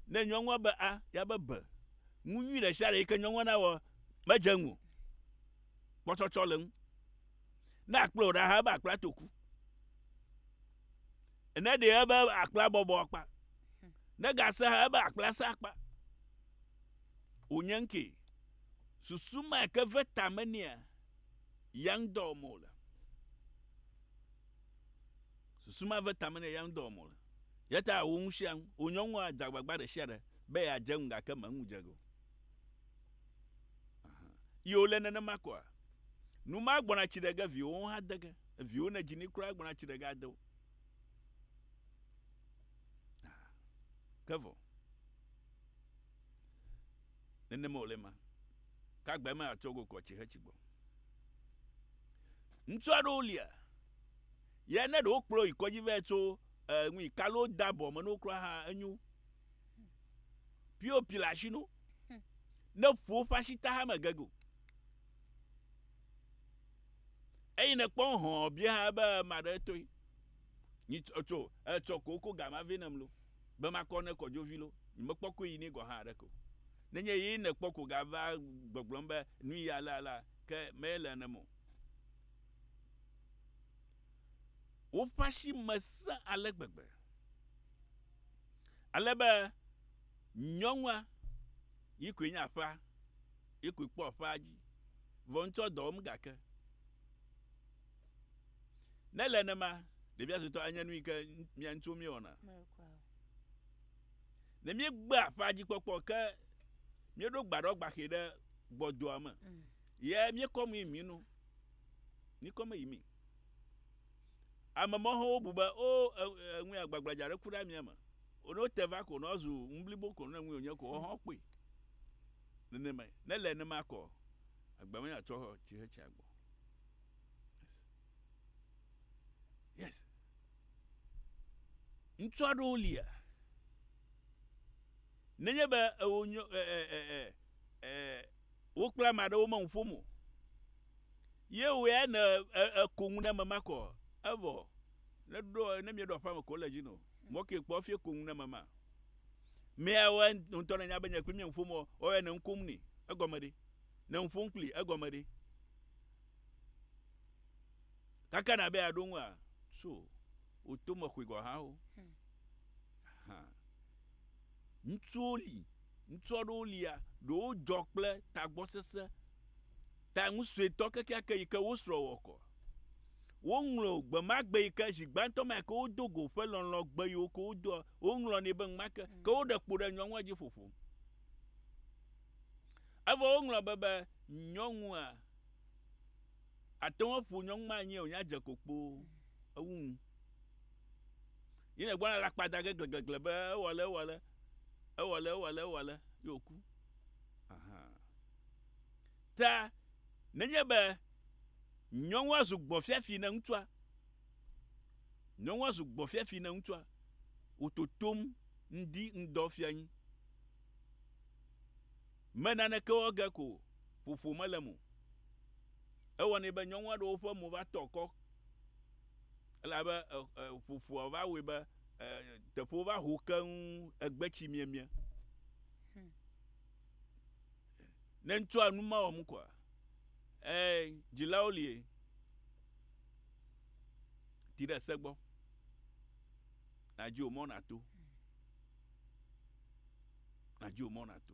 Ne nyɔnua be a, ya be be. Ŋu nyui ɖe sia ɖe yi ke nyɔnua na wɔ. Medze ŋu. Kpɔtsɔtsɔ le ŋu. Ne akplɔ ɖa ha ebe akpla toku. ne ɖe ebe akpla bɔbɔ akpa ne gase ha ebe akpla sa akpa wònye ŋkee susu ma ke ve tame nea yang dɔ wɔm wòle susu ma ve tame nea yang dɔ wɔm wòle yata wo ŋu sia ŋu wò nyɔnu adze agbagba ɖe sia ɖe be yeadze ŋu gake meŋu dze ge o yi wòle nenema koa nu ma gbɔna tsi ɖe ge viwo hã de ge Viwo ne dzi ni kura gblɔna tsi ɖe ga de wo. Ah, ke vɔ. Nenema wòle ma. Ke agbae me atsɔ go kɔ tsi he tsi gbɔ. Ŋutsu aɖewo lia. Ye ne ɖewo kplɔ yi kɔdzi vɛ tso eh, nui kalo da bɔ me no kura ha enyo. Pio pi le asi no. Ne ƒo ƒe asi ta ha me gege o. eyi ne kpɔ hɔn bia hã be ma ɖe toi nyi tsɔ etsɔ ko ko gama vɛ nam lo be ma kɔ ne kɔ dzo vi lo nyi me kpɔ ko yi ni gɔ hã ɖe ko ne nye yi ne kpɔ ko ga va gbɔgblɔ be nu yi ala ala ke me le ne mo wo fashi me se ale gbegbe ale be nyɔnua yi ko nya fa Ye koe kpɔ aƒea dzi. Vɔ ŋutsua dɔ wɔm gake ne le nenema, ɖevia suetɔ anye nu yi ke mía ŋutsuwo míewɔna. Ne míegbe aƒea dzi kpɔkpɔ ke míeɖo gbaɖɔ gbaxɛ ɖe gbɔdoa me mm. ye míekɔ mi mi nu míekɔ me yi mi. Ame mɔxɔwo bu be o oh, eŋue agbagbladza aɖe ku ɖe amia me. Ono te va ko nɔ zu ŋublibo ko ne ŋue wonye ko ɔhɔn kpui. Nenemae, ne ele nenema kɔ, agba me atsɔ tsi he tsia gbɔ. Yes. Yes. Ŋutsu aɖewo lia. Nenye be ewo nyo e e e e e wo kple ame aɖewo me ŋuƒom o. Ye woe ne eko ŋu ne ame ma kɔ evɔ. Ne ɖo ne mieɖo aƒame ko le dzi no. Mɔ ke kpɔ fie ko ŋu ne ame ma. Mea wɔ ŋ ŋutɔ nanya be nye kpli mia ŋuƒom ɔ, ɔ ya ne ŋkom nɛ. Egɔme ɖe? Ne ŋuƒom kpli, egɔme ɖe? Kaka na be aɖo ŋu a? So, o to me xɔe gɔ hã o. Aha. Ŋutsuwo li, ŋutsu aɖewo lia, ɖewo dzɔ kple tagbɔ sese, ta ŋu sue tɔ kekeake yi ke wo srɔ wɔ kɔ. Wo ŋlɔ gbemagbe yi ke zi gbãtɔ mea ke wo do go ƒe lɔlɔ gbe yi wo ke wo doa, Woŋlɔ nɛ be ŋma ke, ke woɖe kpo ɖe nyɔnua dzi ƒoƒom. Evɔ woŋlɔ be be nyɔnua ate ŋu aƒo nyɔnu ma anyi wònya dze kokpo ewu ŋu. Yi ne gbɔna la kpa da ge gleglegle be ewɔle ewɔle ewɔle ewɔle ewɔle ye wòku. Ta nenye be nyɔnua zu gbɔfiafi ne ŋutsua Nyɔnua zu gbɔfiafi na ŋutsua, wòtotom ŋdi ŋdɔ fia nyi. Me naneke wɔ ge ko ƒoƒo mele mo. Ewɔnɛ be nyɔnua ɖewo ƒe mo va tɔ kɔ elabe ƒoƒoa va wɔe be teƒewo va ho keŋ egbe tsi miemie. Ne ŋutsua nu ma wɔm koa, ee, dzilawo lie. Ti ɖe se gbɔ. Nàdi wò mɔ nàto. Nàdi wò mɔ nàto.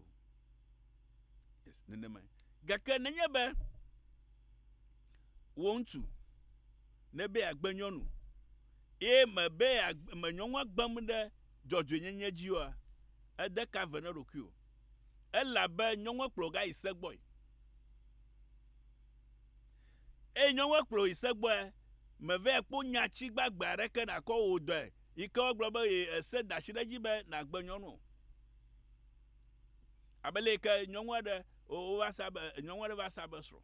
Yes, nenemae. Gake nenye be wò ŋutsu nebe yeagbe nyɔnu eye mebe me nyɔnua gbem ɖe dzɔdzɔenyenye dzi oa, ede ka ve na eɖokui o. Elabe nyɔnua kplɔ wò gayi se gbɔe. Eye nyɔnue kplɔ yi se gbɔe, meve kpo nya tsi gbagbe aɖeke nakɔ o wò dɔe yike wo gblɔ be ye ese datsi ɖe dzi be nagbe nyɔnu o. Abe le yike nyɔnue ɖe o wo va sa be nyɔnue ɖe va sa be srɔ̃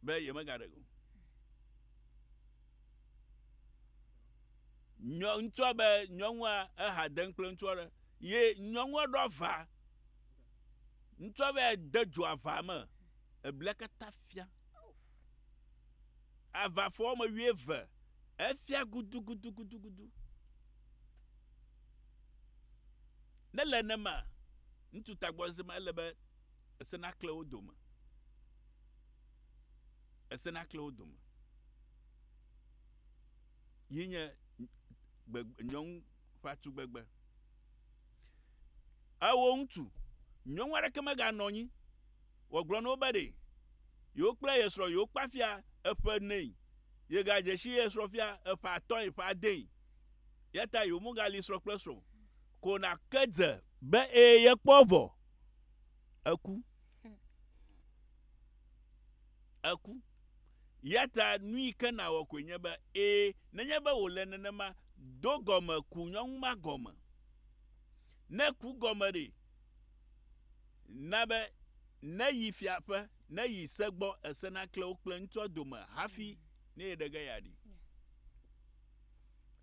be ye mega ɖe o. Nyɔ ŋtsua be nyɔnua eha deŋ kple ŋtsua ɖe ye nyɔnue ɖɔ va. Ŋutsua vɛ de dzo ava me, eblia katã fia. Ava fɔ wɔme wuieve, efia gudugudugudugudu. Ne le nema, ŋutsu tagbɔze ma ele be ese nakle wo dome. Ese nakle wo dome. Yi nye gbegbe nyɔnu ƒe tugbegbe. Eo ŋutu, nyɔnu aɖeke meganɔ anyi wòagblɔ na wo be ɖe yewokple ye srɔ̃ yewokpa fia eƒe enee, yegadze si ye srɔ̃ fia eƒe atɔ̃e, eƒe adee. Eya ta yewomegali srɔ̃ kple srɔ̃ ko nake dze be ee yekpɔ vɔ eku. Eku. Eya ta nuyi ke nàwɔ koe nye be, ẽ, nenye be wòle nenema, do gɔme ku nyɔnu ma gɔme. Ne ku gɔme ɖi na be neyi fia ƒe, neyi se gbɔ, ese nakle wo kple ŋutsua dome hafi ne yeɖe ge yeaɖi.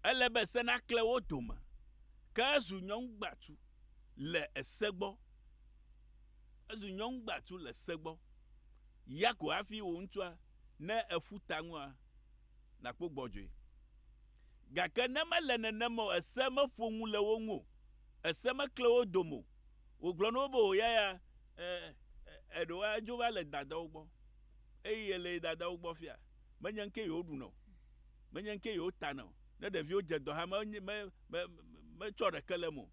Ele be se nakle wo dome. Ke ezu nyɔnu gbatu le ese gbɔ. Ezu nyɔnu gbatu le se gbɔ. Ya ko hafi wò ŋutsua, ne èƒu ta ŋua, nàkpɔ gbɔdzɔe. Gake ne mele nenem o, èse meƒo nu le wo ŋu o, èse mekle wo dome o, wògblɔ na wo be, O yaya, e, e, eɖe woadzo va le dadawo gbɔ, eye yele dadawo gbɔ fia, menye ŋkee yewoɖuna o, menye ŋkee yewotana o, ne ɖeviwo dze dɔ hã, me, me, me, metsɔ ɖeke le eme o,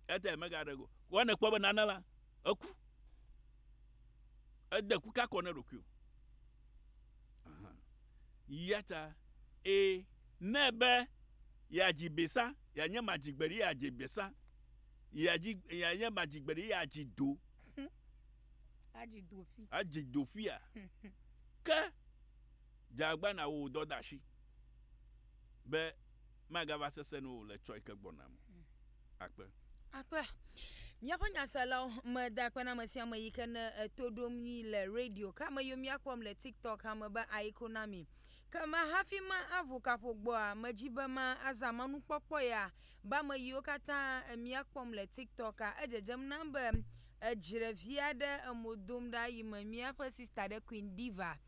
eya ta yemegaɖe ge o. Ko ne ekpɔ be nane la, eku. Ède ku ka kɔ ne ɖokuiwò? Aha. Yata ee, ne ebe yeadzi besa, yeanye madzigbeɖi yeadzi besa, yeadzi, yeanye madzigbeɖi yeadzi do. Adzi do ƒi. Adzi do ƒia. Ke dze agbana wò dɔdasi be Magava sesẽ nu o le tsɔe ke gbɔna me. Akpe. Akpe. Míaƒe nyaselawo meda akpe na ame sia ame yi ke ne eto ɖom mí le radio ke ame yiwo míakpɔm le TikTok hã me be aiko na mi. Ke ma hafi ma aʋu kaƒo gbɔa, medzi be ma azã manukpɔkpɔ ya be ame yiwo katã míakpɔm le TikToka. Edzedzem nam be edzre vi aɖe emo dom ɖa yi me míaƒe sista ɖe Queen Diva.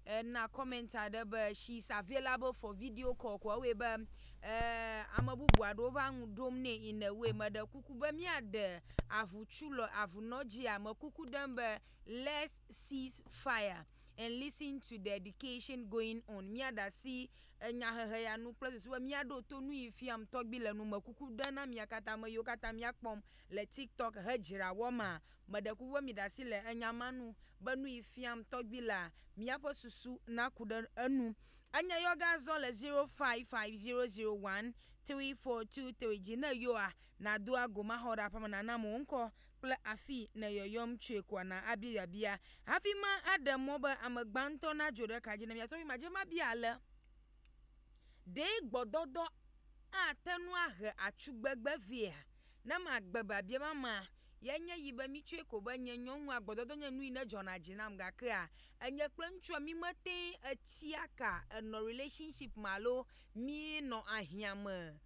E na comment aɖe be she sa vie la be for video call ko ewɔe be e ame bubu aɖewo va ŋu ɖom nɛ in a way meɖe kuku be mia ɖe avu tsu le avu nɔ dzia me kuku ɖem be let's cease fire and listen to the education going on mia ɖa si enya hehe ya nu kple susu be mia ɖo to nu yi fiam tɔgbi le nu me kuku ɖe na mia kata ame yiwo kata mia kpɔm le tiktok he dzra wɔ ma Meɖe kuku be miɖe asi le enya ma nu be nuyi fiam tɔgbi la, miaƒe susu naku ɖe enu. Enye yɔge azɔ le 0550013423 dzi. Ne yɔa, nàdo ago maxɔ ɖe aƒeme nànam wò ŋkɔ kple afii nèyɔyɔm tsoe koa na abia biabia. Hafi ma aɖe mɔ be ame gbãtɔ nadzo ɖe ka dzi ne mia tɔgbi madze mabia ale. Ɖe gbɔdɔdɔ ate ŋu ahe atsugbegbe vɛa? Ne magbe biabia ma mea, yae nye yi be mitsɔe ko be nye nyɔnua, gbɔdɔdɔ nye nuyi ne dzɔna dzi nam gakea enye kple ŋutsua mímete ŋu etsia ka enɔ relationship me alo míenɔ ahiã me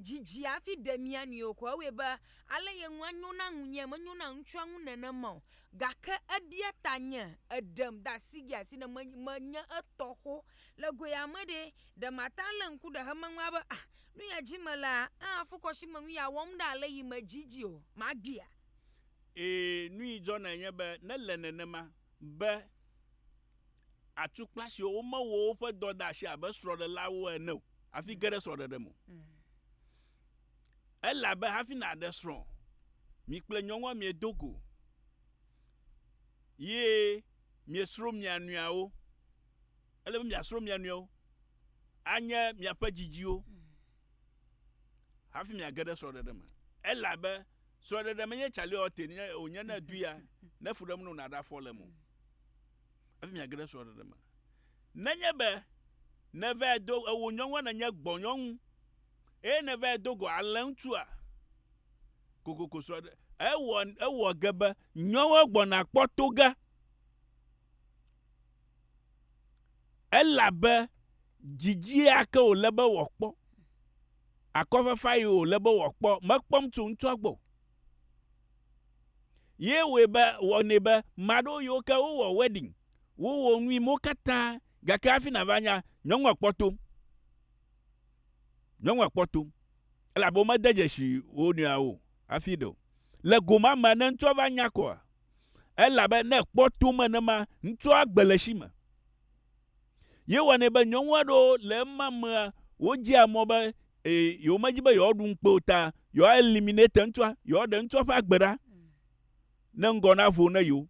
didi o hafi ɖe mía nɔewo o ko ewɔe be ale ye ŋu anyo na ŋunye menyo na ŋutsua ŋu nenema o gake ebia tanye eɖem de asigea si ne menye etɔ xoxo Le goea me ɖe, ɖe màte ŋu alé ŋku ɖe xemeŋua be, A, nu ya dim melea, aa, fukɔsime nu ya wɔm ɖa le yi me dzi dzi o. Magbea? Ɛ̃, nu yi dzɔnae nye be nele nenema be atukpa siwo womewɔ woƒe dɔdeasi abe srɔ̃ɖelawo ene o hafi ge ɖe srɔ̃ɖeɖe me o. Elabe hafi nàɖe srɔ̃, mi kple nyɔnua miedo go, ye miesro mia nɔeawo. ele be miasrɔ̃ mia nɔewo. Anye miaƒe dzidziwo hafi miage ɖe srɔ̃ɖeɖe me. Elabe srɔ̃ɖeɖe menye tsaliote nye wònye ne èdui ya, ne fu ɖem nɔ nàɖe afɔ le mo hafi miage ɖe srɔ̃ɖeɖe me. Nenye be nèvae do ewò nyɔnua nènye gbɔnyɔnu eye nèvae do go alẽŋutsua, kokoko srɔ̃ɖe, ewɔ, ewɔ ge be nyɔnua gbɔna kpɔ to ge. Elabe dzidzie ake wòle be wòakpɔ, akɔfafae wòle be wòakpɔ, mekpɔm tso ŋutsua gbɔ o. Ye wɔe be, wɔnɛ be, maɖewo yiwo ke wowɔ wedding, wowɔ nu yi mewo katã, gake hafi nàva nya, nyɔnua kpɔ tom. Nyɔnua kpɔ tom. Elabe womede dzesi wo nɔeawo o hafi ɖe o. Le gomea me, ne ŋutsua va nya kɔa, Elabe ne kpɔ tome ene ma, ŋutsua agbe le esi me. Yewɔnɛ be nyɔnu aɖewo le ema mea, wodzea mɔ be e, yewomedi be yewoaɖu ŋukpe o ta yewoa eliminate ŋutsua, yewoaɖe ŋutsua ƒe agbe ɖa ne ŋgɔ navo ne yewo.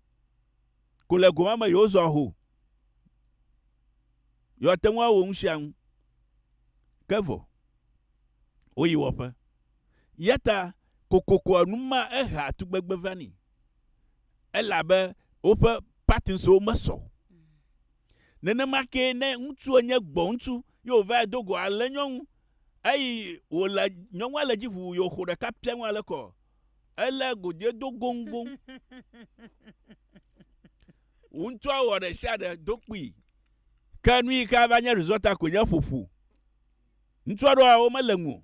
Ko le goma me yewozɔa ho. Yewoate ŋu awɔ nu sia nu. Ke vɔ, woyi wɔƒe. Eyata kokokoa nu ma ehea tugbegbe vani elabe woƒe patinswo mesɔ o. Nenema kee ne ŋutsua nye gbɔŋutsu ye wòvae do go alé nyɔnu eyi wòle nyɔnua le edzi ʋuu ye wòxo ɖeka piaŋ ale kɔ elé godoe do goŋgoŋ. Ŋutsua wɔ ɖesiaɖe do kpui. Ke nuyike ava nye resɔta koe nye ƒoƒu. Ŋutsua ɖo awo mele ŋu o.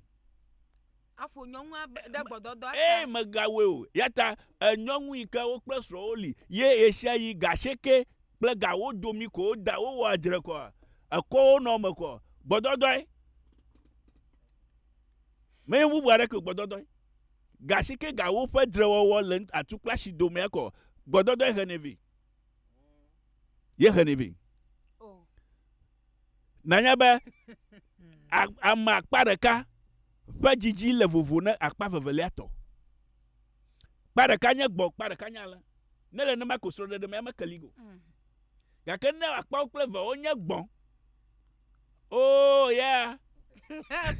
Aƒo nyɔnua be ɖe gbɔdɔdɔ ata. Eye megawɔe o. Yata e nyɔnu yi ke wo kple srɔ̃wo li ye ɣeshiaɣi ga ashieke kple ga wo domi ko wo da wo wɔa dzre kɔa ekɔ wo nɔ me kɔ gbɔdɔdɔe. Menye bubu aɖeke o gbɔdɔdɔe. Ga ashieke ga wo ƒe dzre wɔwɔ le atu kple ashi domea kɔ gbɔdɔdɔe xenɛ vɛ. Ye xenɛ vɛ. Nànya be ame akpa ɖeka ƒe dzidzi le vovo ne akpa vevelia tɔ. Kpa ɖeka nye gbɔ̃, kpa ɖeka nye alẽ. Ne le nenema ko srɔ̃ɖeɖe mea meke li o. Mm. Gake ne akpawo kple eve wonye gbɔ̃, oh yeah.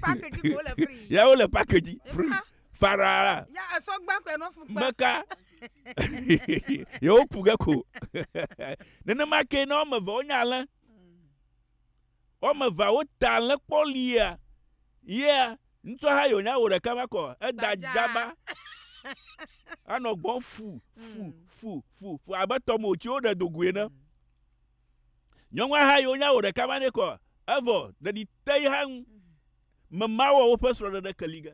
package ko le free. Ya wo le package free. Farara. Ya esɔ gba ko no fukpa. Meka. Yewo ku ge ko. Nenema ke ne wɔme eve wonye alẽ. wɔme eveawo ta lé kpɔ lia yɛ ŋutsua ha yònya wò ɖeka va kɔ eda dzaba anɔ gbɔ fu fu mm. fu fu fu abe tɔme wòtsi woɖe do goe ne mm. nyɔnua ha yònya wò ɖeka va ne kɔ evɔ ɖeɖi te yi ha ŋu mm. memawɔ woƒe srɔ̃ɖeɖe keli ge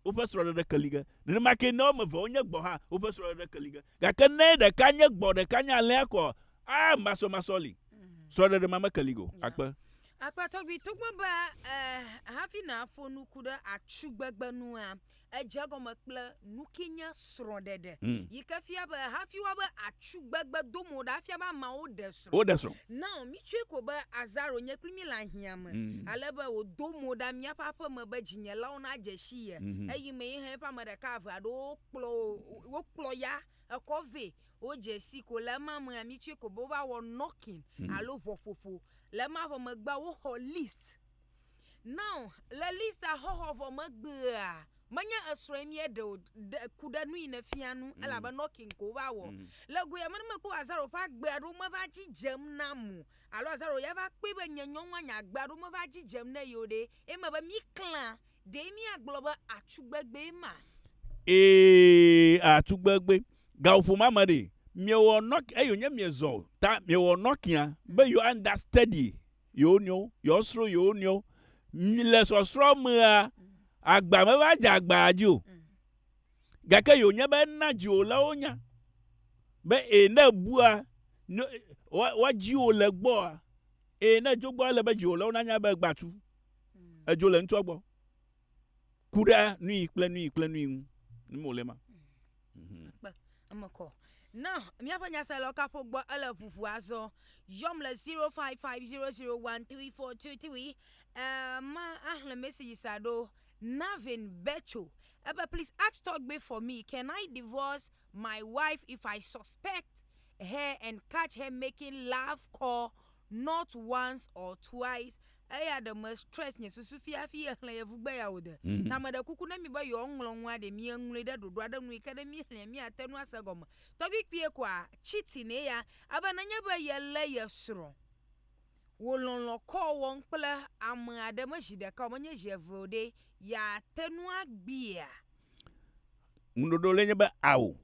woƒe srɔ̃ɖeɖe ke li ge. Nenema ke ne woame eve wonye gbɔ̃ hã, woƒe srɔ̃ɖeɖe ke li ge. Gake ne ɖeka nye gbɔ̃, ɖeka nye alẽa koa, a masɔmasɔ li. Mm. Srɔ̃ɖeɖe ma meke li ge o. Akpe. Akpe tɔgbi, togbɔ be eh, hafi nàƒo nuku ɖe atsugbegbe nua, edze gɔme kple nukinye srɔ̃ɖeɖe, yi ke fia be hafi woabe atsu gbegbe do mo ɖa afia be ameawo ɖe srɔ̃. Woɖe srɔ̃. Nao mitsɔe ko be Azaro nye kpli mí le ahiãme, ale be wòdo mo ɖa míaƒe aƒe me be dzinyelawo nadze si ye. Eyimee hã eƒe ame ɖeka eve aɖewo kplɔ wokplɔ ya ekɔ vɛ. Wodze si ko le ema mea, mitsɔe ko be wova wɔ knocking alo ʋɔƒoƒo. Le ema vɔ megbea, woxɔ list. Now le Lisa xɔxɔ vɔ megbea, menye esrɔ̃e mie ɖe o, ɖe ku ɖe nui ne fia nu, mm. elabe knocking ko va wɔ. Mm. Le goya me ne mekpɔ Lazaro ƒe agbe aɖo meva dzidzem na mu, alo Lazaro ya va kpɔe be nye nyɔnua nye agbe aɖo meva dzidzem ne yewo ɖe, eme be mi klã, ɖe mi agblɔ be atugbegbe ma. Ee, atugbegbe. Gaƒoƒo ma me ɖe, miewɔ nɔk, eyo nye miezɔ ta, miewɔ nɔkia be you understudy. yewo nɔewo, yewo srɔ̃ yewo nɔewo. Le sɔsrɔ̃ mea, agba meva dze agbaa dzi o. Mm. Gake yewo nya be ena dziwòlawo nya be ee ne bua woadziwo le gbɔa, ee ne dzo gbɔa ele be dziwòlawo nanya be egbatu. Mm. Edzo le ŋutsua gbɔ. Ku ɖe nui kple nui kple nui ŋu. Nu wòle ma. Kpe eme kɔ. Na míaƒe nyaselawo kaƒo gbɔ ele ʋuʋu azɔ. Yɔm le 0550013423. Uh, ma ahle message sa ɖo. Navin Becho. Ebe please ask tɔgbe for me. Can I divorce my wife if I suspect her and catch her making love call not once or twice Eya ɖe me stretch nye susu fi hafi ye xlẽ yevugbe ya o de. Mhm. Ta meɖe kuku ne mi be yewoa ŋlɔ nua ɖe mi eŋlɔe ɖe ɖoɖo aɖe nu yike ne mi xlẽa mi ate nu ase egɔme. Tɔgbi kpuie koa cheating ye ya ebe nenye be ye le ye srɔ̃ wo lɔlɔ call wɔm kple ame aɖe me zi ɖeka o menye zi eve o ɖe ya te nu agbiea? Ŋuɖoɖo le nye be ao.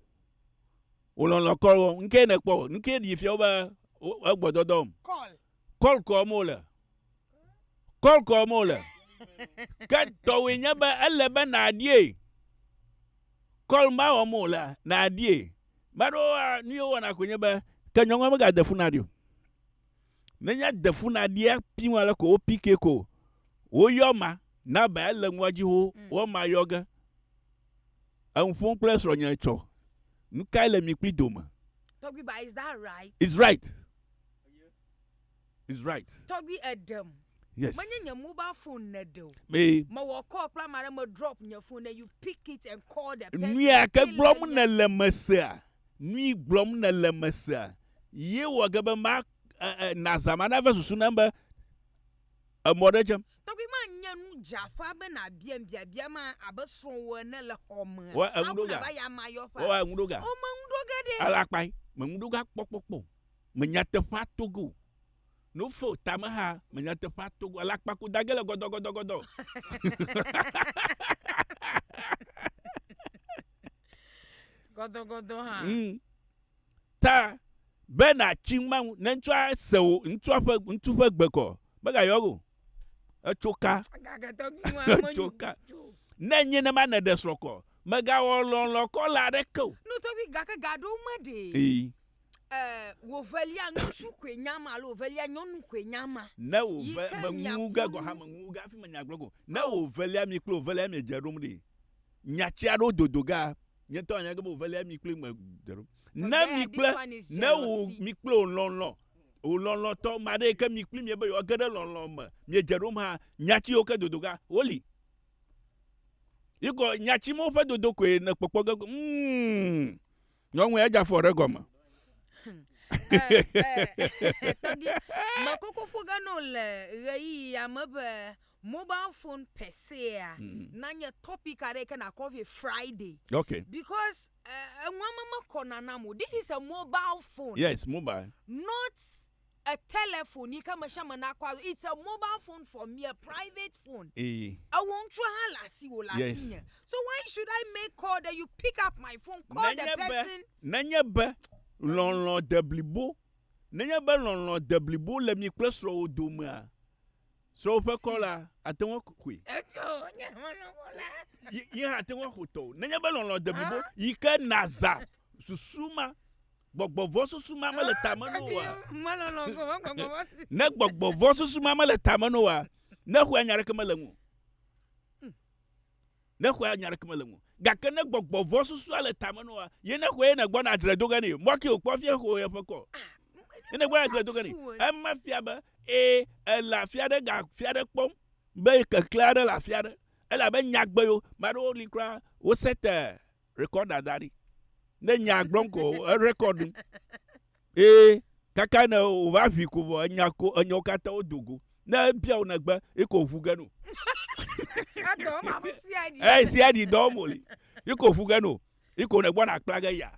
Wo lɔlɔ call wɔm. Nuke ne kpɔ? Nuke ɖi fia wo be wo egbɔ dɔdɔm? Call. Call kɔm wole. Call kɔm wole. Ke tɔwòe nye be ele be nàɖie. Call ma wɔm wòle nàɖie. Ame aɖewoa, nu ye wowɔna koe nye be, ke nyɔnua megade fu naɖi o. Nenye ede fu naɖia, piŋ ale ko wopikɛ ko woyɔ ma na be ele nua dzi xoxo, mm. wo ma yɔ ge. Eŋu ƒom kple srɔ̃nye tsɔ. Nu kae le mi kpli dome? Tɔgbi, but is that right? It's right. It's right. Tɔgbi eɖem. Yes. Menye nye mobile phone neɖe o. Me. Mewɔ call kple ame aɖe me drop nye phone then you pick it and call the person. Nuya ke gblɔm nèle mesea. Nui gblɔm nèle mesea. Ye wɔ ge be ma e, e, nazã ma nave susu nam be emɔ ɖe dzem. Tɔgbi ma nye nu dze aƒa be na biam biabia ma abe srɔwò ene le xɔme. Wɔ eŋu Mawu ɖo ga. nava ya ma yɔƒa. Wɔ eŋu ɖo ga. O me ŋu ɖo ge ɖe. Ela kpai, me ŋu ɖo ga kpɔ kpɔ kpɔ o. Me nyateƒea to ge o. No fo ta me ha, me nyateƒea to ge o. Ela kpa ku da ge le gɔdɔ gɔdɔ gɔdɔ. Gɔdɔ gɔdɔ ha. Ŋ. ta be nàtsi ŋmaŋu ne ŋutsua se wò ŋutsua ƒe ŋutsu ƒe gbe kɔ megayɔ eŋu o. Etso ka? Etso ka? Ne enye nema nèɖe srɔ̃ kɔ megawɔ lɔlɔ̃ kɔla aɖeke o. No tɔgbi gake ga ɖewo me ɖe. Ee. Eh, wo velia ŋutsu koe nya ma alo velia nyɔnu koe nya ma. Ne wo ve me ŋu ge gɔ ha me ŋu ge afi me nya gblɔ go. Ne wo velia mi kple wo velia mi dze ɖom ɖi. nyati aɖewo dodo ga nye tɔ anya gebe ovelia mi kple me dero ne mi kple ne wo mi kple o lɔlɔ o lɔlɔ tɔ ma ɖe ke mi kple mi be yo ge ɖe lɔlɔ me mi dze ɖom ha nyati yo ke dodo ga wo li yi kɔ nyati mo ƒe dodo koe ne kpɔkpɔ ge ko mm Nyɔnue edze afɔ ɖe gɔme. Tɔgbi, mekoko ƒo ge no le ɣeyiɣi ya me be mobile phone per se ya mm. na nye topic aɖe ke na coffee Friday. Okay. Because uh, eh, enuame mekɔna nam o. This is a mobile phone. Yes, mobile. Not a telephone yi ke ame sia ame nakɔ alo it's a mobile phone for me a private phone eye ewɔ ŋutsu hã le asiwò le yes. asinye so why should I make call that you pick up my phone call nenye the person be, nenye be lɔlɔ deblibo nenye be lɔlɔ deblibo le mi kple srɔ̃wò domea Srɔ̃wò ƒe kɔ la, àte ŋu axɔe. Etsɔ nye ame lɔlɔ̃ la. Yi, yi hã àte ŋu axɔ tɔwò. Nenye be lɔlɔ̃ de blibo yi ke nàzã susu ma, gbɔgbɔ vɔ̃ susu ma mele ta me na wò oa? Melɔlɔ̃ ko be gbɔgbɔ vɔ̃ susu. Ne gbɔgbɔ vɔ̃ susu ma mele ta me na wò oa, nexɔe anye aɖeke mele eŋu o. Ne xɔe anya ɖeke mele ŋu o. Gake ne gbɔgbɔ vɔ̃ susua le tame nɔ woa, ye ne xɔe ye nègbɔna adzre do ge nɛ. Mɔ ke wòkpɔ fia xo yeƒe kɔ. Ye nègbɔna adzre do ge nɛ. Ema fia be, ẽ, èle afi aɖe ga afi aɖe kpɔm be keklẽ aɖe le afi aɖe. Elabe nyagbe yo. Maɖewo li kura, wosete Rekɔd da da ɖi. Ne nya gblɔm ko erekɔd nu. Ee, kaka ne wòva ʋi ko vɔ enya ko enyawo katã wodo go. Ne ebia wò negbe, yi ko ʋu ge no. Edɔ ma ƒe sia ɖi. Ee, sia ɖi dɔ mo li. Yi ko ʋu ge no. Yi ko nègbɔ nàkpla ge ya.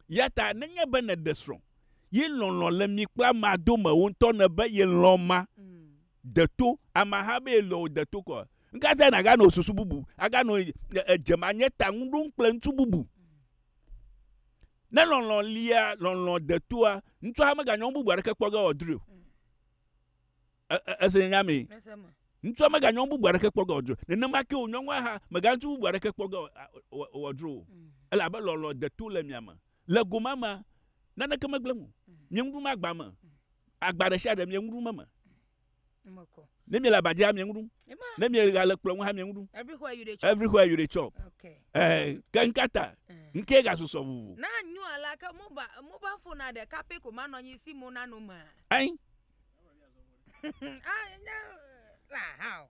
Ya ta nenye be nèɖe srɔ̃, ye lɔlɔ̃ le mi kpla ma dome wò ŋutɔ nèbe ye lɔ̃ ma. Mm. De to ameha be yele o, de to kɔ. Nuka tae nàganɔ susu bubu, aganɔ edzemanyeta ŋu ɖom kple ŋutsu bubu? Ne lɔlɔ̃ lia, lɔlɔ̃ de toa, ŋutsua meganyɔ nu bubu aɖeke kpɔ ge wòadrɔe o. Èse nye nya mee? Ŋutsua meganyɔ nu bubu aɖeke kpɔ ge wòadrɔe o. Nenema ke wò nyɔnua hã meganyɔ ŋutsu bubu aɖeke kpɔ ge wòadrɔe o. Elabe lɔlɔ̃ de to le mia me. Le gomea mea, naneke megblẽ mi o. Mieŋu ɖum agba me. Agba ɖe sia ɖe mie nu ɖum eme. Ne mie le aba dzia mie nu ɖum. Ne mie ga le kplɔ ŋu hã mie nu ɖum. Everywhere you dey chop. Everywhere you dey chop. Okay. Eh, ke nkata. Nke eh. ga susɔ vuvu. Na nyu ala ke moba moba fona de kape ko ma nɔ nyi si mo na no ma. Ain. Ah, no. La how.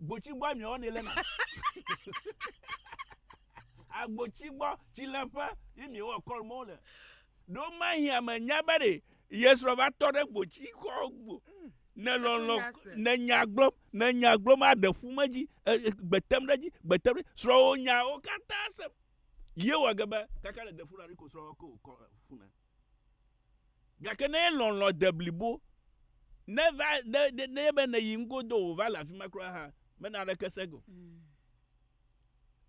Gbotsi gbɔ mi ɔne le na. Agbotsi gbɔ tsi le ƒe yi mi wɔ kɔl mo le. Ɖo ma hi ame nya be ɖe yesrɔ va tɔ ɖe gbotsi kɔ gbo. Ne lɔlɔ ne nya gblɔ ne nya gblɔ ma ɖe fu me dzi gbetem ɖe dzi gbetem ɖe srɔ wo nya wo katã se. Ye wɔ gebe kaka le defu la ri ko srɔ ko kɔ fu ne. Gake ne ye lɔlɔ̃ de blibo, ne va, ne, ne, ne be nèyi ŋgo do wòva le afi ma kura hã, mena aɖeke sege o.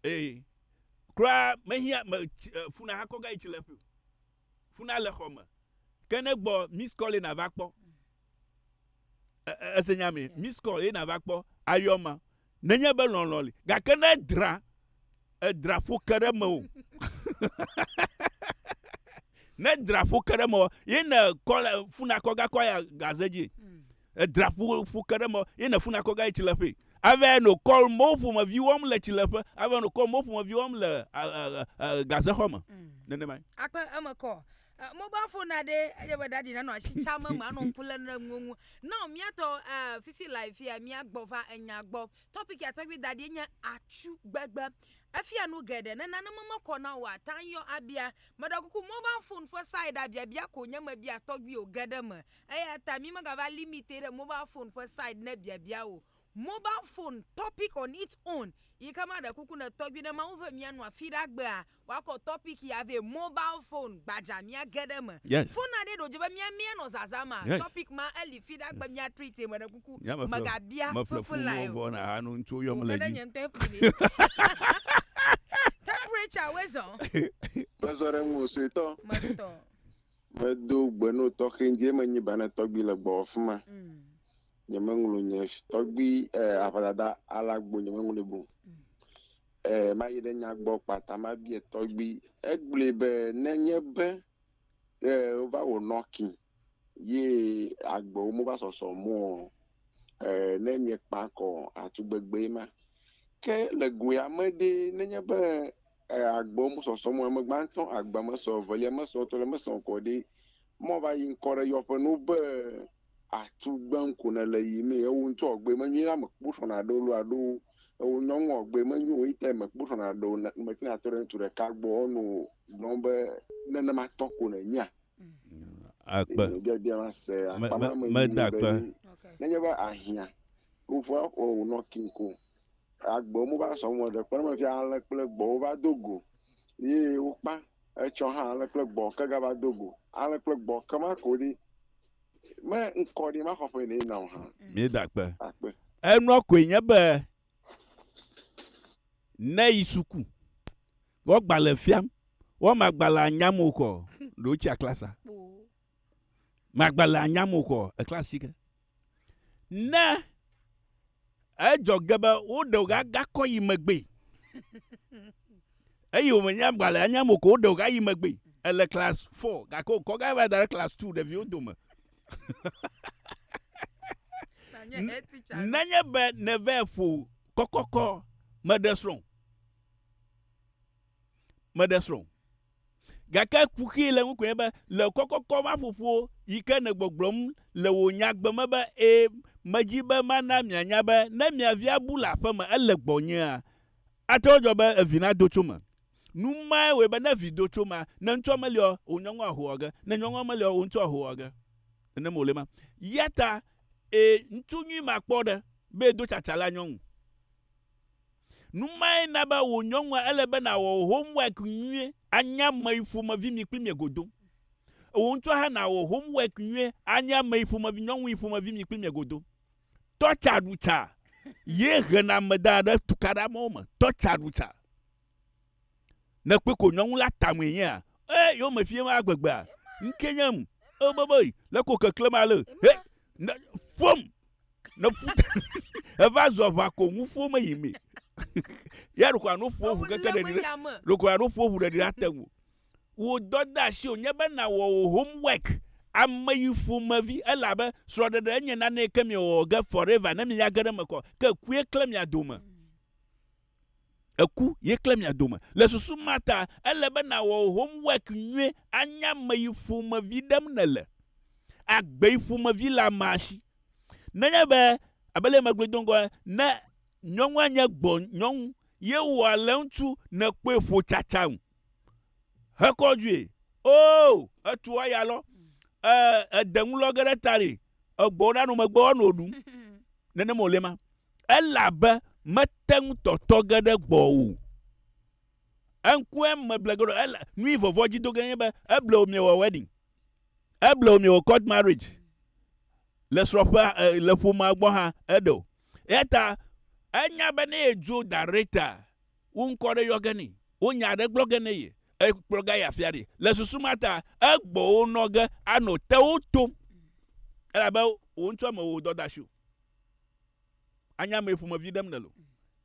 Ee, kura mehiã, me, tsi, e, funa hakɔ gayi tsi le ƒui o. Funa le xɔ me. Ke ne gbɔ miss call ye nàva kpɔ. E, e, ese nya me? Miss call ye nàva kpɔ. Ayɔ ma. Nenye be lɔlɔ̃ li, gake ne edra, edra ƒo ke ɖe mewò. ne edra ƒo ke ɖe mewò, ye ne kɔ le funa kɔ gakɔ ya gaze dzi. Hmm. Edra ƒo ƒo ke ɖe mewò, ye ne funa kɔ gayi tsi le ƒe. Ave no kɔ mo ƒomevi wɔm le tsi le ƒe. Ave no kɔ mo ƒomevi wɔm le gaze xɔ me. Hmm. Nenema. Akpe eme kɔ. Eh, mobile phone na ɖe edze be ɖaɖi nanɔ asi tsam eme anɔ ŋku lé ɖe nuwo ŋu na míatɔ eh, fifi le afia míagbɔ va enya gbɔ tɔpik ya tɔgbi da ɖi nye atsu gbegbe efia nu geɖe ne nane memekɔ na o ata yɔ abia meɖe kuku mobile phone ƒe sai ɖa biabia ko nye mebia tɔgbi o geɖe me eya ta mi megava limite ɖe mobile phone ƒe sai ne biabia o Mobile phone topic on its own yike ma ɖe kuku ne tɔgbi ne mawu ve mia nua fiɖa gbea wa kɔ topic ya vɛ mobile phone gbadza mia ge ɖe me yes phone na ɖe ɖo dzi be mia mia nɔ zaza ma yes topic ma eli fiɖa gbe mia treat ye me ɖe kuku mega bia fefo lae o o ke ɖe nye ŋtɔe ƒli ni temperature woe zɔ me zɔ ɖe ŋuo suetɔ me tɔ me do gbe no tɔxɛ ŋdzi eme nyi ba ne tɔgbi le gbɔwɔ fima. Nyemeŋlɔ nye tɔgbui eh, aʋadada ala gbo nyemeŋlɔe bo. Mm. Eh, mayi ɖe nya gbɔ kpata mabie tɔgbui. Egblɔe be nenye be eh, wova wò nɔki ye agbewo mova sɔsɔ mɔ eh, ne miekpa kɔ atugbegbe ma. Ke le goea me ɖe nenye be E agbewo me sɔsɔ mɔ eme gbãtɔ agbe me sɔ evelia me sɔ etɔ̃lia me sɔ kɔ ɖi mɔ va yi ŋkɔ ɖe yɔ ƒe nu be atu gbe ŋku ne le yi mi ewo ŋtsɔ ɔgbe me nyui la me kpo sɔ na ɖo lo aɖo ewo nyɔ ŋu ɔgbe me nyui wo ite me kpo sɔ na ɖo ne me tina tɔ ɖe ŋutsu ɖeka gbɔ ɔnu gblɔ be ne ne ma tɔ ko ne nyia akpe bia bia ma se akpa ma me yi be ne nye be ahia wo va o nɔ kinko Agbewo me va sɔ me ɖe kpe me fia ale kple gbɔwo va do go ye wokpa etsɔ hã ale kple gbɔ ke gava do go ale kple gbɔ ke ma ko ɖi me ŋkɔ ɖi ma xɔƒe ne na o hã. Mi da kpe. Akpe. Enua koe nye be ne yi suku wɔ gbalẽ fiam wɔ ma gbalẽa nyam o kɔ ɖo tsia klasa. magba le anya mo kɔ ekla sike ne edzɔ ge be wo ɖe ga ga kɔ yi megbe eye wo menya gba le anya mo ko wo ɖe ga yi megbe ele class 4 ga ko kɔ ga va da class 2 ɖe viwo dome nenye be ne ve fo kɔkɔkɔ me ɖe srɔ̃ me ɖe srɔ̃ Gake kuxi le ŋu koe be, le kɔkɔkɔ ma ƒoƒo yi ke nègbɔgblɔm le wò nyagbe me be, Ẽ, medi be mana mianya be ne mia vi abu le aƒe me ele gbɔnyea, ate ŋu adzɔ be evi nado tso eme. Nu mae wɔe be ne vi do tso emea, ne ŋutsua meliɔ, wò nyɔnua ahoa age, ne nyɔnua meliɔ, wò ŋutsua ahoa age. Nenem wòle ema. Yata, ẽ, ŋutsu nyui ma kpɔ ɖe be edo tsatsa la nyɔnu. Nu mae na be wò nyɔnua ele be nàwɔ wò homework nyuie, anye ameyi ƒomevi mi kpli mie godo. Ewò ŋutɔ hã nàwɔ homework nyuie, anye ameyi ƒomevi, nyɔnuyi ƒomevi mi kpli mie godo. Tɔ tsa ɖu tsa ye hena ame dana ɖe tukaɖamewo me. Tɔ tsa ɖu tsa. Ne kpui ko nyɔnu la tamee nyea, e yo me fiem a gbegbea. Nke nyem e be be le ko keklem a le he ne fom ne fu e va zɔ va ko ŋu fo me yi me. Ya ro ko ano fo fu keke de dire. Ro ko ano fo fu de dire ate ŋu. Wo dɔ da si o nye be na wo wo homework ame yi fo me vi e la be srɔ de de enye na ne ke mi o ge forever ne mi ya ge de me ko ke kue kle mi a do me. Eku ye klẽ mia dome. Le susu ma ta, ele be nàwɔ wò homework nyuie anya ame yi ƒomevi ɖem nèle. Agbe yi ƒomevi le amea si. Nenye be, abe leye megblɔe do ŋgɔ ene, ne nyɔnua nye gbɔ nyɔnu ye wɔ le ŋutsu nèkpɔe ƒo tsatsaŋ hekɔ dzoe, oo, etu aya lɔ, ee, ede nu lɔ ge ɖe ta nɛ, egbɔ wo na nu megbe woanɔ nu. Nenema wòle ma. Elabe mete ŋu tɔtɔ ge ɖe gbɔwò o. Eŋkɔe meble ge ɖo, ela, nui vɔvɔ̃ dzi do ge nye be eblewo miewɔ wedding. Eblewo miewɔ court marriage le srɔ̃ƒea, e, le ƒomea gbɔ hã eɖe o. Eyata enya be ne yedzo da ɖe ta, wo ŋkɔ ɖe yɔ ge nɛ, wo nya aɖe gblɔ ge ne ye, ekplɔ ga yi afi aɖee. Le susu ma ta, egbɔwo nɔ ge anɔ tewò tom, elabe wò ŋutɔ mewɔ wò dɔ da si o. Anya ame ƒomevi ɖem nèle o.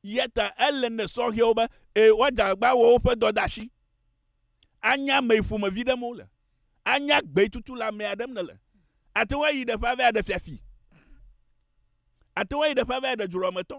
Yeta ele ne sɔhɛwo be e, woadze agbagba wɔ woƒe dɔdeasi. Anya ame ƒomevi ɖem wole. Anya gbetutu le amea ɖem nèle. Ate ŋu ayi ɖeƒe ava ɖe fiafi. Ate ŋu ayi ɖeƒe ava ɖe dzroametɔ.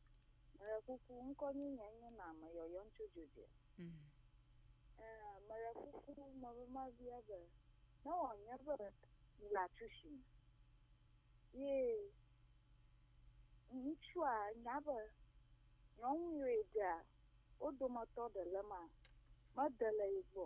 Meɖe kuku, ŋkɔ nyui nye nye na me yɔyɔm tso dzo dze. Ẽ, meɖe kuku, me be ma bia be, ne wɔ nye be mi la tsu shi me. Ye ŋutsua nya be nyɔnu yɔe ɖea, wo dometɔ ɖe le ma, me de le ye gbɔ.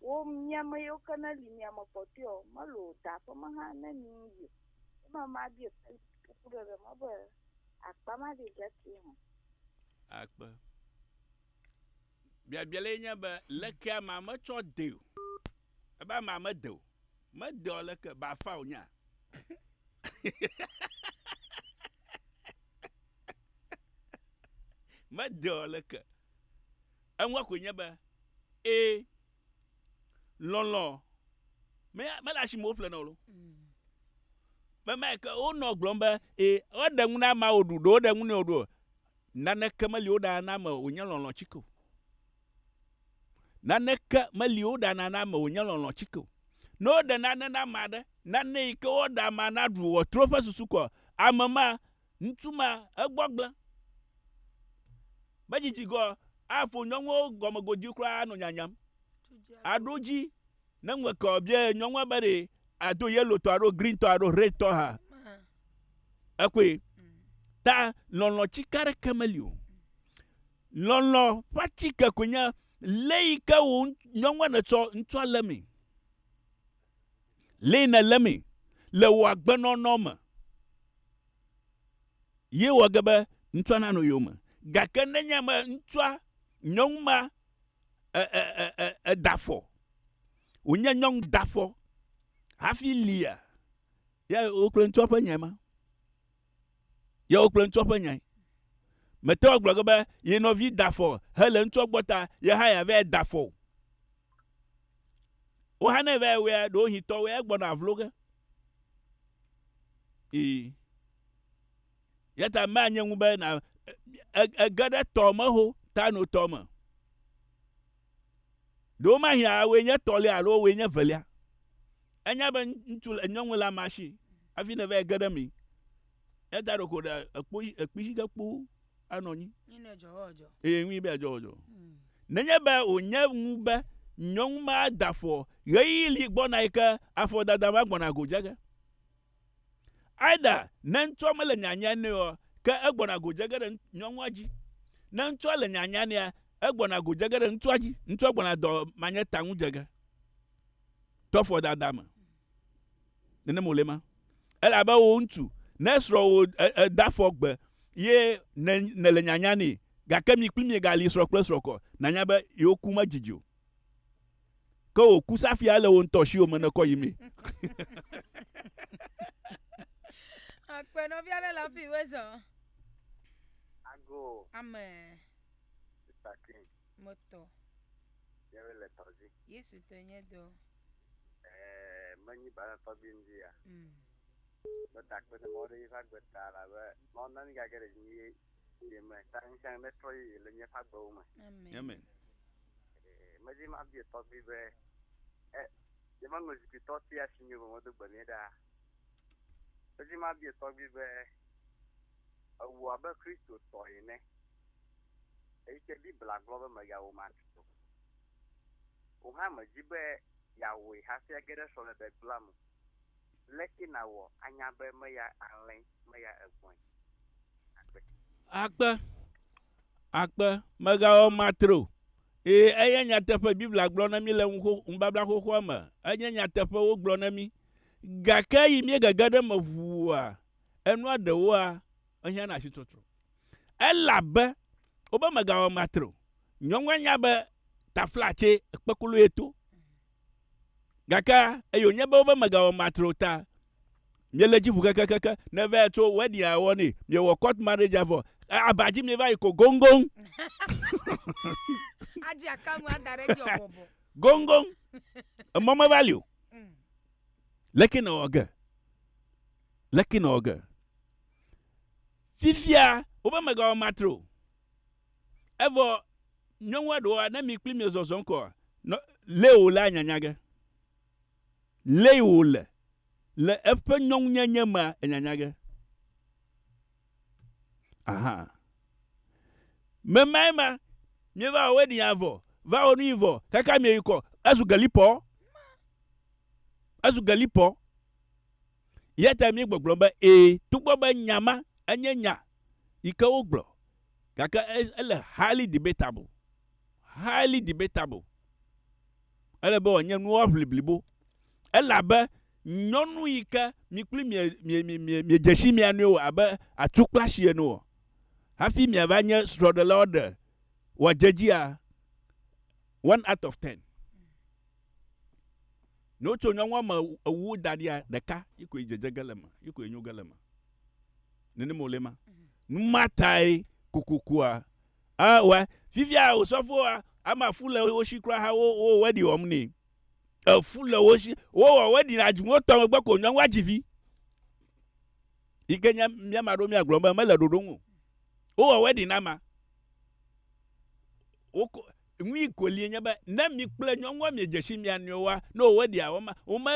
Wo miame yewo ke ne li miame kpɔtɔe ɔ, melo o, da ƒe me hã ne mi ŋu yi o. Ye me ma biɛ Felix kukuɖeɖe me be, Akpa ma ɖi ɖe ke hã. Akpe. Biabia le ye nye be, leke amea me tsɔ de o? Ebe amea me de o. Me de ɔ leke? Ba fa o nya. me de ɔ leke? Eŋua koe nye be, Ẽ, lɔlɔ̃ me, mele asi me woƒle na wò lo. Be mae ke wonɔ gblɔm be, Ẽ, woɖe ŋu na amea wòɖu, ɖe woɖe ŋu nɛ wòɖu o. Naneke meli woɖana na ame wònye lɔlɔ̃ tsike o. Naneke meli woɖana na ame wònye lɔlɔ̃ tsike o. Ne woɖe nane na ame aɖe, nane yi ke woɖe amea naɖu wòatrɔ eƒe susu kɔa, ame ma, Ŋutsu ma egbɔgblẽ be dzidzigɔ afo nyɔnuwo gɔmegodui kura anɔ nyanyam. Aɖo dzi ne ŋeke o bia nyɔnua be ɖe ado yellow tɔ alo green tɔ alo red tɔ ha. Ekɔe. Ta lɔlɔ tsika ɖe ke meli o. Lɔlɔ ƒe tsike koe nye le yi ke wo nyɔnua netsɔ ŋutsua le me. Lee nèlémee le wò agbenɔnɔ me ye wɔ ge be ŋutsua nanɔ yowòme. Gake nenye be ŋutsua, nyɔnu ma e, e, e, e, eda afɔ, wònye nyɔnu da afɔ hafi lia, Ya wò kple ŋutsua ƒe nyae ma. Ya wò kple ŋutsua ƒe nyae. Mète ŋu agblɔ ge be ye nɔvi da afɔ hele ŋutsua gbɔ ta ye hã yeava yi ada afɔ o. Wò hã ne èva yi wɔea, ɖewohĩ tɔwòe egbɔna avlo ge. Ii. Eya ta manye ŋu be na ege ɖe tɔ me ho ta no tɔ me. Ɖewomahiã wòe nye etɔ̃lia alo wòe nye evelia. Enya be ŋutsu le nyɔnu le amea si hafi ne va yi ge ɖe eme. Ne da ɖeko ɖe ekpo dzi ekpi dzi ge kpoo anɔ anyi. Nyi ne edzɔ wɔdzɔ. Eye nyi be edzɔ wɔdzɔ. Hmm. Nenye be wònye ŋu be nyɔnu ma da afɔ ɣeyiɣi li gbɔna yi ke afɔdada ma gbɔna go dze ge. Either ne ŋutsua mele nyanyae nɛ oa, ke egbɔna go dze ge ɖe nyɔnua dzi. Ne ŋutsua le nyanyae nɛa, egbɔna go dze ge ɖe ŋutsua dzi. Ŋutsua gbɔna dɔ manye ta ŋu dze ge. tɔfɔ dada me. Nenem wòle ma. Elabe wò ŋutsu, ne srɔ̃wò da fɔ gbe ye nèle nyanya nɛ, gake mi kpli mie gali srɔ̃ kple srɔ̃ kɔ, nànya be yewo ku medidi o. Ke wò ku safia ele wò ŋutɔ shiwo me nèkɔ yi mee. Akpe nɔvi aɖe le afi wezɔ. Ago. Amen. Sister King. Me tɔ. Yɛwe le tɔ dzi. Yesu tɔ nye dɔ. Ɛɛ me nyi bala tɔgbi ŋdzi ya. Mm. Me ta kpe ne mɔ ɖe yiƒe agbe ta la be mɔ nani gage ɖe dzi ye ye me ta ŋsɛn ne trɔ yi le nye ƒe agbewo me. Amen. Amen. Ɛɛ me dzi ma bie tɔgbi be ɛ ye ma ŋlɔ zikui tɔ ti asi nye be mɔ do gbe ne ɖa. Me dzi ma bie tɔgbi be ewu abe Kristo tɔ yi ne. Eyike Biblia gblɔ be mègawo ma tsi o. Wò hã mèdi be yeawoe hafi age ɖe srɔ̃meɖegbea me o. Leke nàwɔ anya be meya alẽe, meya egbɔ̃e akpe? Akpe, akpe, mègawɔ ma tre o. Ee, enye nyateƒe, Biblia gblɔ na mí le nubabla xoxoa me. Enye nyateƒe, wogblɔ na mí. Gake eyi míegege ɖe eme ʋua, enua ɖewoa, ehiã na asitɔtrɔ. Elabe wobe megawɔ matre o. Nyɔnua nya be taflatse kpekolo ye to. Gake eye wònye be wobe megawɔ matre o ta, miele edzi ʋu kekekeke. Ne eva yi tso wedding a wɔ nɛ, miewɔ court marriage a vɔ, aba dzi mieva yi ko goŋgoŋ. Adzi aka nu ada ɖe edzi ɔbɔbɔ. Goŋgoŋ. Emɔ meva li o. Mm. Leke nèwɔ ge? Leke nèwɔ ge? Fifia woƒe megawɔ matre o. Evɔ nyɔnua ɖewoa, ne mi kpli miezɔzɔm kɔa, nɔ, lé wòlea nyanya ge. Lee wòle. Le eƒe nyɔnunyenye mea, enyanya ge. Aha. Memae ma, mieva wɔ wedding a vɔ, va wɔ nuyi vɔ, kaka mieyikɔ, ezu gelipɔ. Ezu gelipɔ. Eya ta míegbɔgblɔ be ẽ, togbɔ be nya ma enye nya yi ke wogblɔ, gake ele highly debatable, highly debatable. Ele be wòanye nuwɔaʋli blibo. Elabe nyɔnu yi ke mi kpli miedze si mia nɔewo abe atukplasi ene o, hafi miava nye srɔ̃ɖelawo ɖe wòadze edzia? One out of ten. Ne wotso nyɔnua me ewu da ɖia ɖeka yi koe dzedze ge le eme, yi koe nyo ge le eme. Nenem wòle ma. Mhm. Nu ma tae kokokua. Ah, wa, fifia osɔfoa, ama fu le wo si kura ha wo wo wɛɖi wɔm nɛ. Efu le wo si, wowɔ wɛɖi na dzinu tɔ megbe ko nyɔnua dzi vi. Yi ke nye mía ma ɖo mía gblɔ be mele ɖoɖo ŋu. Wowɔ wɛɖi na ma. Woko Nui kolie nye be ne mi kple nyɔnua miedze si mia nɔewoa, ne wòwɔe ɖia, wome, wome,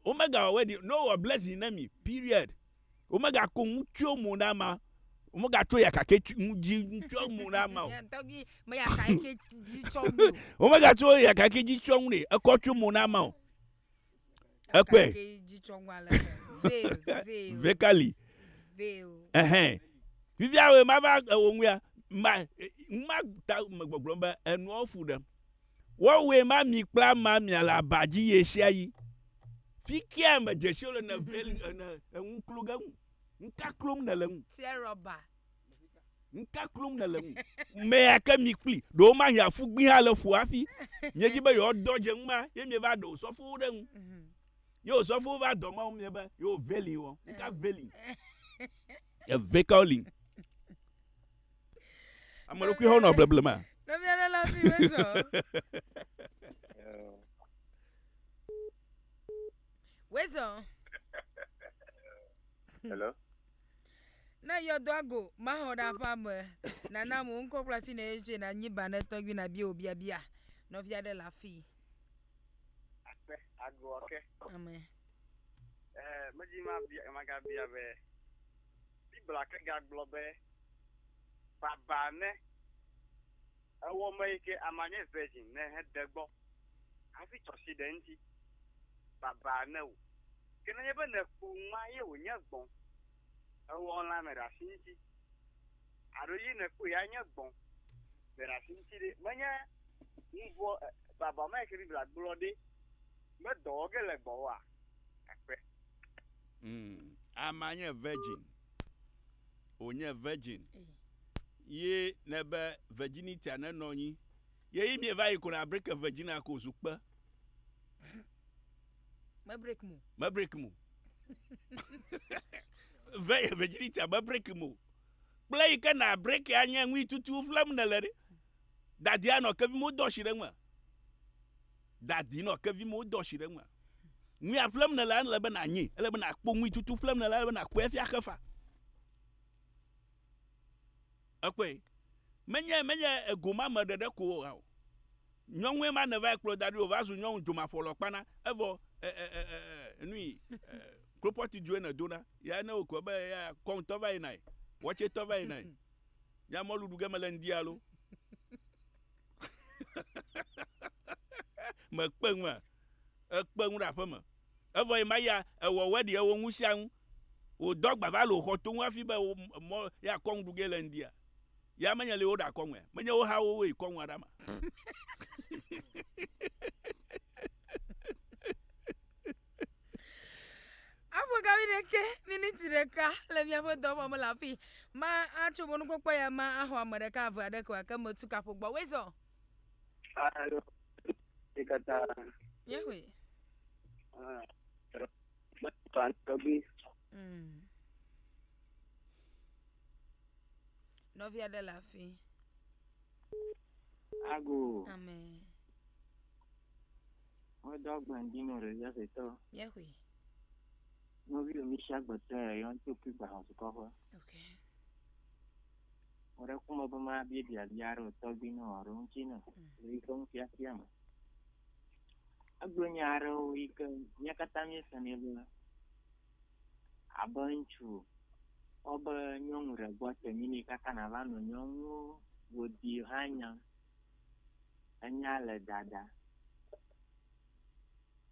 womegawɔe ɖi, ne wowɔ blessing ne mi, period. Womegako ŋutsuwo mo na ama, womegatso yaka ke tsi ŋu dzi tsɔ mo na ama o. Mía tɔgbi me yaka ke dzi tsɔ ŋu o. Womegatso yaka ke dzi tsɔ ŋu ne ekɔ tso mo na ama o. Ekpɔe. Vekali. Ɛhɛn. Fifia wòe ma va ewò ŋuia. Ma, ma ta me gbɔgblɔm be enuawo fu ɖem. Woawɔe ma mi kple ama mia le aba dzi ɣesiaɣi. Fikea me dzesiwo le ne veli ene eŋu klo ge ŋu. Ŋka klom nèle ŋu. Tiɛ rɔba. Nuka klum nèle ŋu? Mea ke mi kpli. Ɖe womahi afu gbi hã le ƒo hafi. Miedzi be yewoadɔ dze ŋu ma ye mieva ɖe osɔfowo ɖe ŋu. Mhm. Ye osɔfowo va dɔ Mawu mie be yewo veli wɔ. Nuka veli? Eve kawo li? Ame ɖokui hã wonɔ bleble ma. Nɔvia ɖe la mi wezɔ. Wezɔ. Hello. Na yɔdɔa go maxɔ ɖe aƒea me. Nana wò ŋkɔ kple afi ne yetsoe nanyi ba ne tɔgbi nabia wò biabia. Nɔvi aɖe le afii. Akpe agɔa ke. Amen. Eh, medi mabia, magabia be, Biblia ke gagblɔ be, Baba ne Ewɔ me yi ke ama nye virgin ne he de gbɔ hafi tsɔ si ɖe ŋti. Baba ne wo. Ke nenye be ne ku ŋma ye wo nye gbɔn ewɔ ŋla me ɖasi ŋti. Aɖo yi ne ku ya nye gbɔn me ɖasi ŋti ɖe menye ŋvɔ baba ma yi ke Biblia gblɔ ɖe me dɔ wɔ ge le gbɔ woa? Akpe. Ŋ, ama nye virgin. Wo nye virgin. Ye ne be virginitia ne nɔ nyi ye yi mie va yi ko na break ke virginia ko zu kpe. Me break mo. Me break mo. Ve virginitia me break mo. Kple yi ke na break ya nye nui tutu ƒlem ne le ɖe. Dadi anɔ ke vi mo dɔ shi ɖe ŋme. Dadi nɔ ke vi mo dɔ shi ɖe ŋme. Nui a ƒlem ne le ele be na nyi, ele be na kpo nui tutu ƒlem ne le ele be na kpɔe fia xefa. Èkpɔe? Menye, menye egomame ɖeɖe ko o hã o. Nyɔnue ma nèvae kplɔ da ɖi o, va zu nyɔnu dzomaƒɔlɔ kpana. Evɔ, e, e, e, e, e, e, nui, e, klopɔti dzoe nèdona. Yae ne wòkɔ be eya kɔŋtɔ va yinae, watsɛtɔ va yinae. Nye mɔlu ɖu ge mele ŋdi alo? Mèkpe ŋua? Èkpe ŋu ɖe aƒeme. Evɔ ye ma ya, ewɔwɔe ɖi eo ŋu sia ŋu. Wò dɔ gba va le wò xɔ toŋ hafi be wò mɔ ye akɔ ŋu ɖu ge le ŋdia? Ya menye le yewo ɖa kɔ ŋue? Menye wo ha wowoe kɔ ŋua ɖa ma? Afɔ gavi ɖekɛ, miniti ɖeka le miaƒe dɔ wɔm le afi ma atso mɔnukpɔkpɔ ya ma axɔ ame ɖeka ave aɖe ko ake me tu kaƒo gbɔ. Wezɔ. Alo. Ye katã. Yehoe. Ah. Mm. Nɔvia ɖe le afi. Ago. Ame. Wodɔ agbandi nɔ ɖe ya fetɔ. Yɛxui. Nɔvi omi si agbetɔ ya yɔn tó kí gbà hàn sukɔ ƒe. Ok. Wòɖe kumɔ be ma bia bia bia ɖe wòtɔ gbi nɔ ɔɖo ŋuti nɔ. Lè yi ke ŋu fiafia me. Egblɔ nya aɖewo yi ke mía katã míesenɛ be, abe ŋutsu kpɔ be nyɔnu ɖe gbɔ te yim yi katã nàva nɔ nyɔnuwo godi hã nyam. Enya le dada.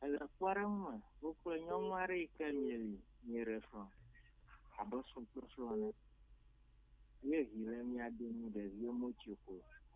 Ele kpɔɖeŋu me wokple nyɔnu aɖe yi ke mieli mieɖe srɔ̃ abe srɔ̃ kple srɔ̃ ene ye vi le mia domi ɖeviwo motsoe kpo o.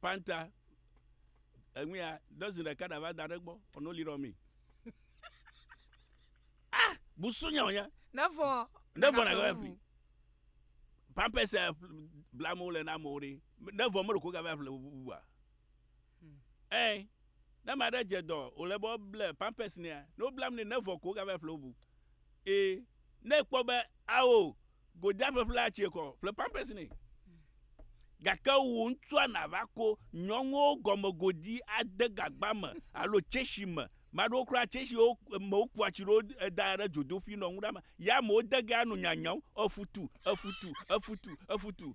Panta enuya dɔzin ɖeka ɖa va da ɖe gbɔ ɔ no li ɖɔ mi. Ah, busu nya nya. Ne vɔ. Ne vɔ na gava fli. Pampers eh, bla mo le na mo re. Ne vɔ mo ko gava fli bua. Hmm. Eh, ne ma ɖe dze dɔ o le bɔ ble pampers nia. No blam ne ne vɔ ko gava fli bu. Eh, ne kpɔ be awo Goda ƒeƒlea tsie kɔ ƒle pampers nɛ. Gake wò ŋutsua nàva ko nyɔnuwo gɔme godi ade gagba me alo tsɛshi me. Ame aɖewo kura tsɛshiwo me wokua tsi ɖewo dana ɖe dzodoƒui nɔ nu ɖam. Ya amewo de ge ano nyanyam efutu, efutu, efutu, efutu.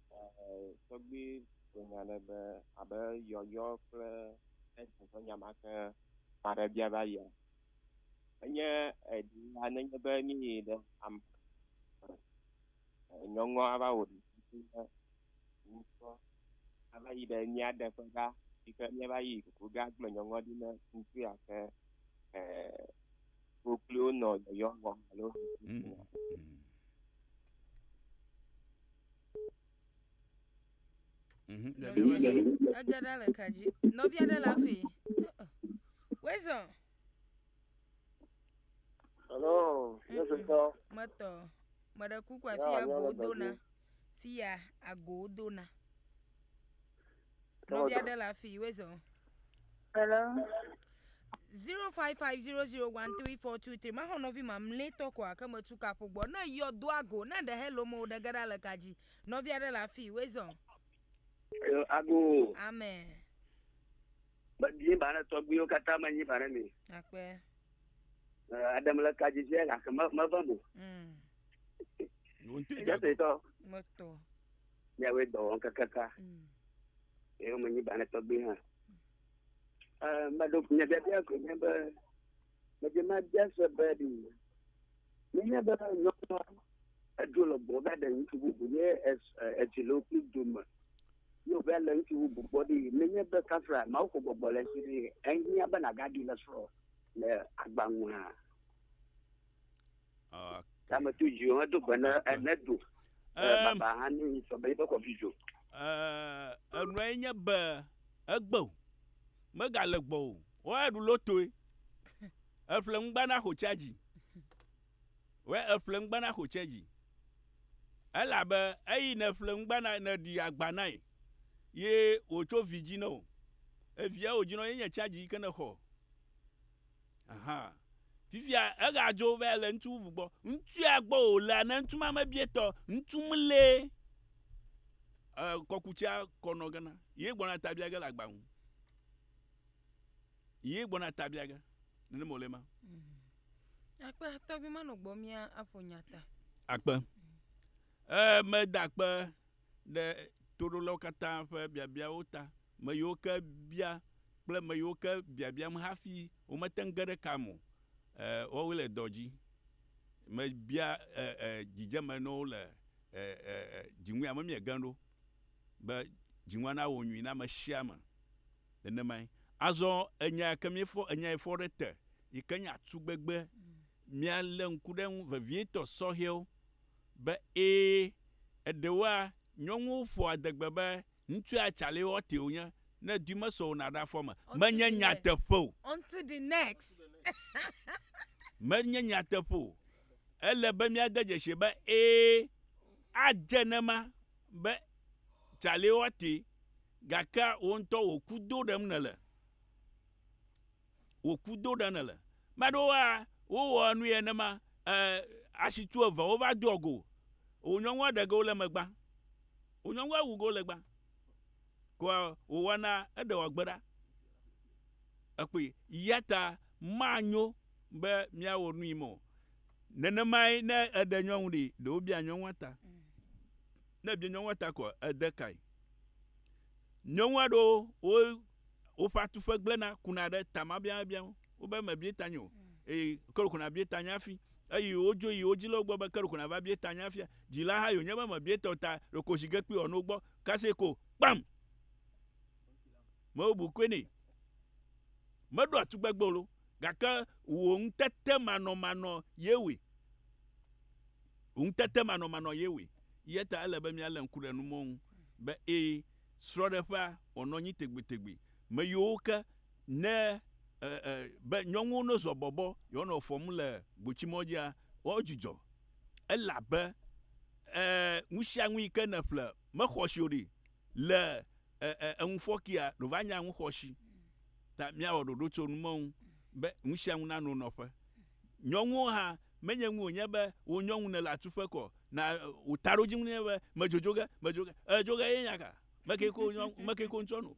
Tɔgbui gblɔ nya ɖe be abe yɔyɔ kple Edwin ƒe nya ma ke ame aɖe bia va yia, enye ɖila nenye be míyi ɖe ame e nyɔnua va wɔ ɖevi na ŋutsua ava yi ɖe mía ɖe ƒe ɖa yi ke míeva yi ɖe ƒe ɖa gblɔ nyɔnua ɖi na ŋutsu ya ke e. Koklowo nɔ yɔyɔ wɔm alo ʋuʋu wɔm. Mhm, le Nɔvi ɖe- aɖe- Ege ɖa le ka dzi. Nɔvi aɖe le afi. Wezɔ. Hello, Yesu tɔ. Metɔ. Meɖe kuku Ya, afi ya nyɔnu agoo dona. dɔdzi. Fi ya agoo dona. Nɔvi aɖe le afi wezɔ. Hello. zero five five zero zero one three four two three maxɔ nɔvi mamlɛtɔ kɔ ake metu kaƒo gbɔ ne yɔ do ago ne ɖe hello mo ɖe ge ɖa le ka dzi nɔvi aɖe le afi wezɔ. ago. amen. medie ba ne tɔgbuiwo katã menyi ba ne mi. akpe. aɖem le ka dzi dzi gake meve mo. Mm. Jẹ́sẹ̀ tọ́. Mọ́tò. míawoe dɔ wɔm kakaka eye womenyi ba ne tɔgbi hã meɖo nye biabia ko nye be medze mabia se be ɖi menye be nyɔnua edzo le gbɔ va ɖe ŋutsu bubu ye edzi le wokpli dome ye wòva le ŋutsu bubu gbɔ ɖi menye be kafra mawu ko gbɔgbɔ le si ɖi ehiã be nagaɖi le srɔ̃ le agbaŋua Tame to dzi o, hedo gbe ne ene do. Baba hã ne yi sɔ be yibe kɔ vidzo. Enua ye nye be egbe o, megale gbɔ o, wɔ eɖu lotoe. Eƒle ŋugba na xotsia dzi. Wɔ eƒle ŋugba na xotsia dzi. Elabe eyi ne ƒle ŋugba na ne ɖi agba na ye, ye wòtso vi dzi na o. Evia wòdzi na ye nye tsia dzi yi ke ne xɔ. Ahan. Fifia eɣa dzo va le ŋutsu bubu gbɔ. Ŋutsua gbɔ wò lea, ne ŋutsu ma mebie tɔ, ŋutsu mlɛ e kɔkutsia kɔ nɔ gena. Ye gbɔna ta bia ge le agba ŋu. Ye gbɔna ta bia ge. Nene mo le ma. Akpe tɔbi ma nɔ gbɔ mia aƒo nyata. Akpe. E me da akpe. ɖe toɖolawo katã ƒe biabiawo ta, me yiwo ke bia kple me yiwo ke biabiam hafi womete ŋu ge ɖe kaa me o, e, woawoe le dɔ dzi. Mebia e, e, dzidzeme na wo le e, e, e, dziŋue ame miege ɖo be dziŋua nawɔ nyui na ame sia ame. Nenemae. Azɔ enya ke míefɔ, enya yi fɔ ɖe te yi ke nye atugbegbe, míalé ŋku ɖe eŋu vevietɔ sɔhɛwo be, Ẽ, eɖewoa, nyɔnuwo ƒoa adegbe be ŋutsua Charlie Horty wònye, ne dui mesɔ o na ɖe afɔ me. Menye nyateƒe o. Onto the next. Menye nyateƒe o. Ele be míade dzesii be, ẽ, adze ene ema, be Charlie Horty, gakea wò ŋutɔ wò ku do ɖem nèle. wòku do ɖe nèle. Ame aɖewo ya, wowɔa nui nenema, e, asi tu eve wova doa go. Wò nyɔnua ɖe ge wole eme gbã. Wò nyɔnua wu ge wole gbã. Koa wòwɔna eɖe wòagbe ɖa. Ekpɔe. Yata manyo be míawɔ nui mɔ. Nenemae ne eɖe nyɔnu ɖi, ɖe wobia nyɔnua ta. Ne bia nyɔnua ta koa, ède kae? Nyɔnu aɖewo wo woƒe atuƒe gblẽna kuna ɖe tamabiamabia ŋu. Wobe mebia tanye o eye ke ɖeko nàbia tanye hafi. Eye wodzo yi wo dzilawo gbɔ be ke ɖeko nàva bia tanye hafia. Dzila hã yi wònye be mebia tawò ta ɖeko zi ge kpi wòanɔ wo gbɔ. Kasia ko kpam! Mebu koe nɛ. Meɖoa tugbegbe o loo gake wò ŋutetemanɔmanɔ ye wɔe. Ŋutetemanɔmanɔ ye wɔe. Eya ta ele be míalé ŋku ɖe numɔwo ŋu be ẽ, srɔ̃ɖeƒea wɔnɔ anyi tegbetegbe. Me yiwo ke ne e, e, be nyɔnuwo no zɔ bɔbɔ yewoanɔ fɔm le gbotsimɔdzia, woawo dzudzɔ, elabe, e, nusianu yi ke nèƒle mexɔ si o ɖi le, e, e, eŋufɔkia ɖe wòva nye aŋuxɔsi. Ta míawɔ ɖoɖo tso numɔwo ŋu be nusianu nano nɔƒe. Nyɔnuwo hã, menye ŋu wònye be wò nyɔnu nèle atuƒe kɔ na wò taɖodzinu nɛ be, Medzo dzo ge, medzo ge. Ee, dzo ge ye nya ka? Me kee ko nyɔ, me kee ko ŋutsua nu.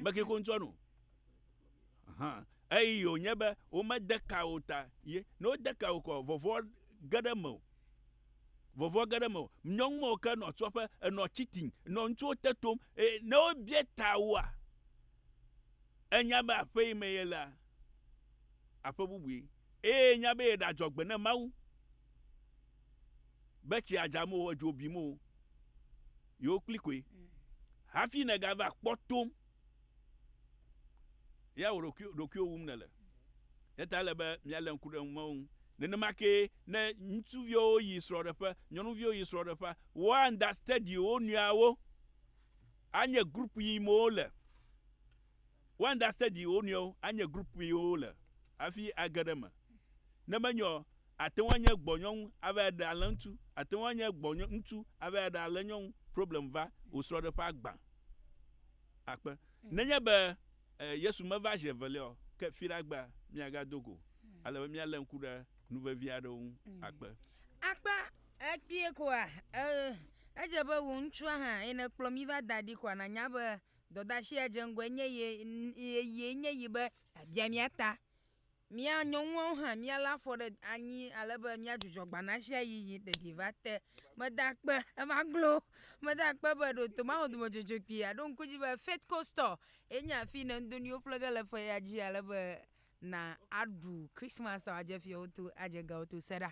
Me kee ko ŋutsua nu. Hã. Eyi yi wònye be womede ka wò ta ye. Ne wode ka wò kɔ, vɔvɔ̃ ge ɖe mewò. Vɔvɔ̃ ge ɖe mewò. Nyɔnu mawo ke nɔ tua ƒe, enɔ cheating, nɔ ŋutsuwo te tom. Eye ne wobiae ta woa? Enya be aƒe yi me yelea, aƒe bubue, eye enya be yeɖe adzɔgbe ne Mawu, be tsia dzam o, edzo bim o, yewo kpli koe. Hafi nègava kpɔ tom, ya wò ɖokui, ɖokuiwò wum nèle. Eya ta ele be míalé ŋku ɖe eŋu ŋu. Nenema kee ne ŋutsuviwo yi srɔ̃ɖeƒe, nyɔnuviwo yi srɔ̃ɖeƒea, wounderstandi wo nɔeawo. Anye group yi me wo le. Wo understand wo nɔewo. Anye group yi wo le hafi age ɖe eme. Ne menye o, ate ŋu anye gbɔnyɔnu ava ɖe alẽ ŋutsu, ate ŋu anye gbɔnyɔ ŋutsu ava ɖe alẽ nyɔnu. Problem va wò srɔ̃ɖeƒe agbã akpe. Nenye be Yesu meva zi evelia o, ke fiɖe agbea míagado go ale be míalé ŋku ɖe nu vevi aɖewo ŋu akpe. Ekpɔe koa? Ee, edze be wò ŋutsua hã ye nèkplɔ mí va da ɖi koa? Nànya be dɔdeasi ya dze ŋgɔe nye ye, eye nye yi be yeabia mía ta. Mía nyɔnuawo hã míalé afɔ ɖe anyi ale be míadzudzɔ gbanatsiayi yi ɖeɖi va te. Meda akpe, eva glo, meda akpe be ɖo to Mawu dɔmedzodzro kpuie aɖo ŋku edzi be Faith Co. Store ye nye afi yi ne ŋdo nuwo ƒle ge le ƒe ya dzi ale be na aɖu Krismas wòadze fiawo to, adze gawo to. Se ɖa.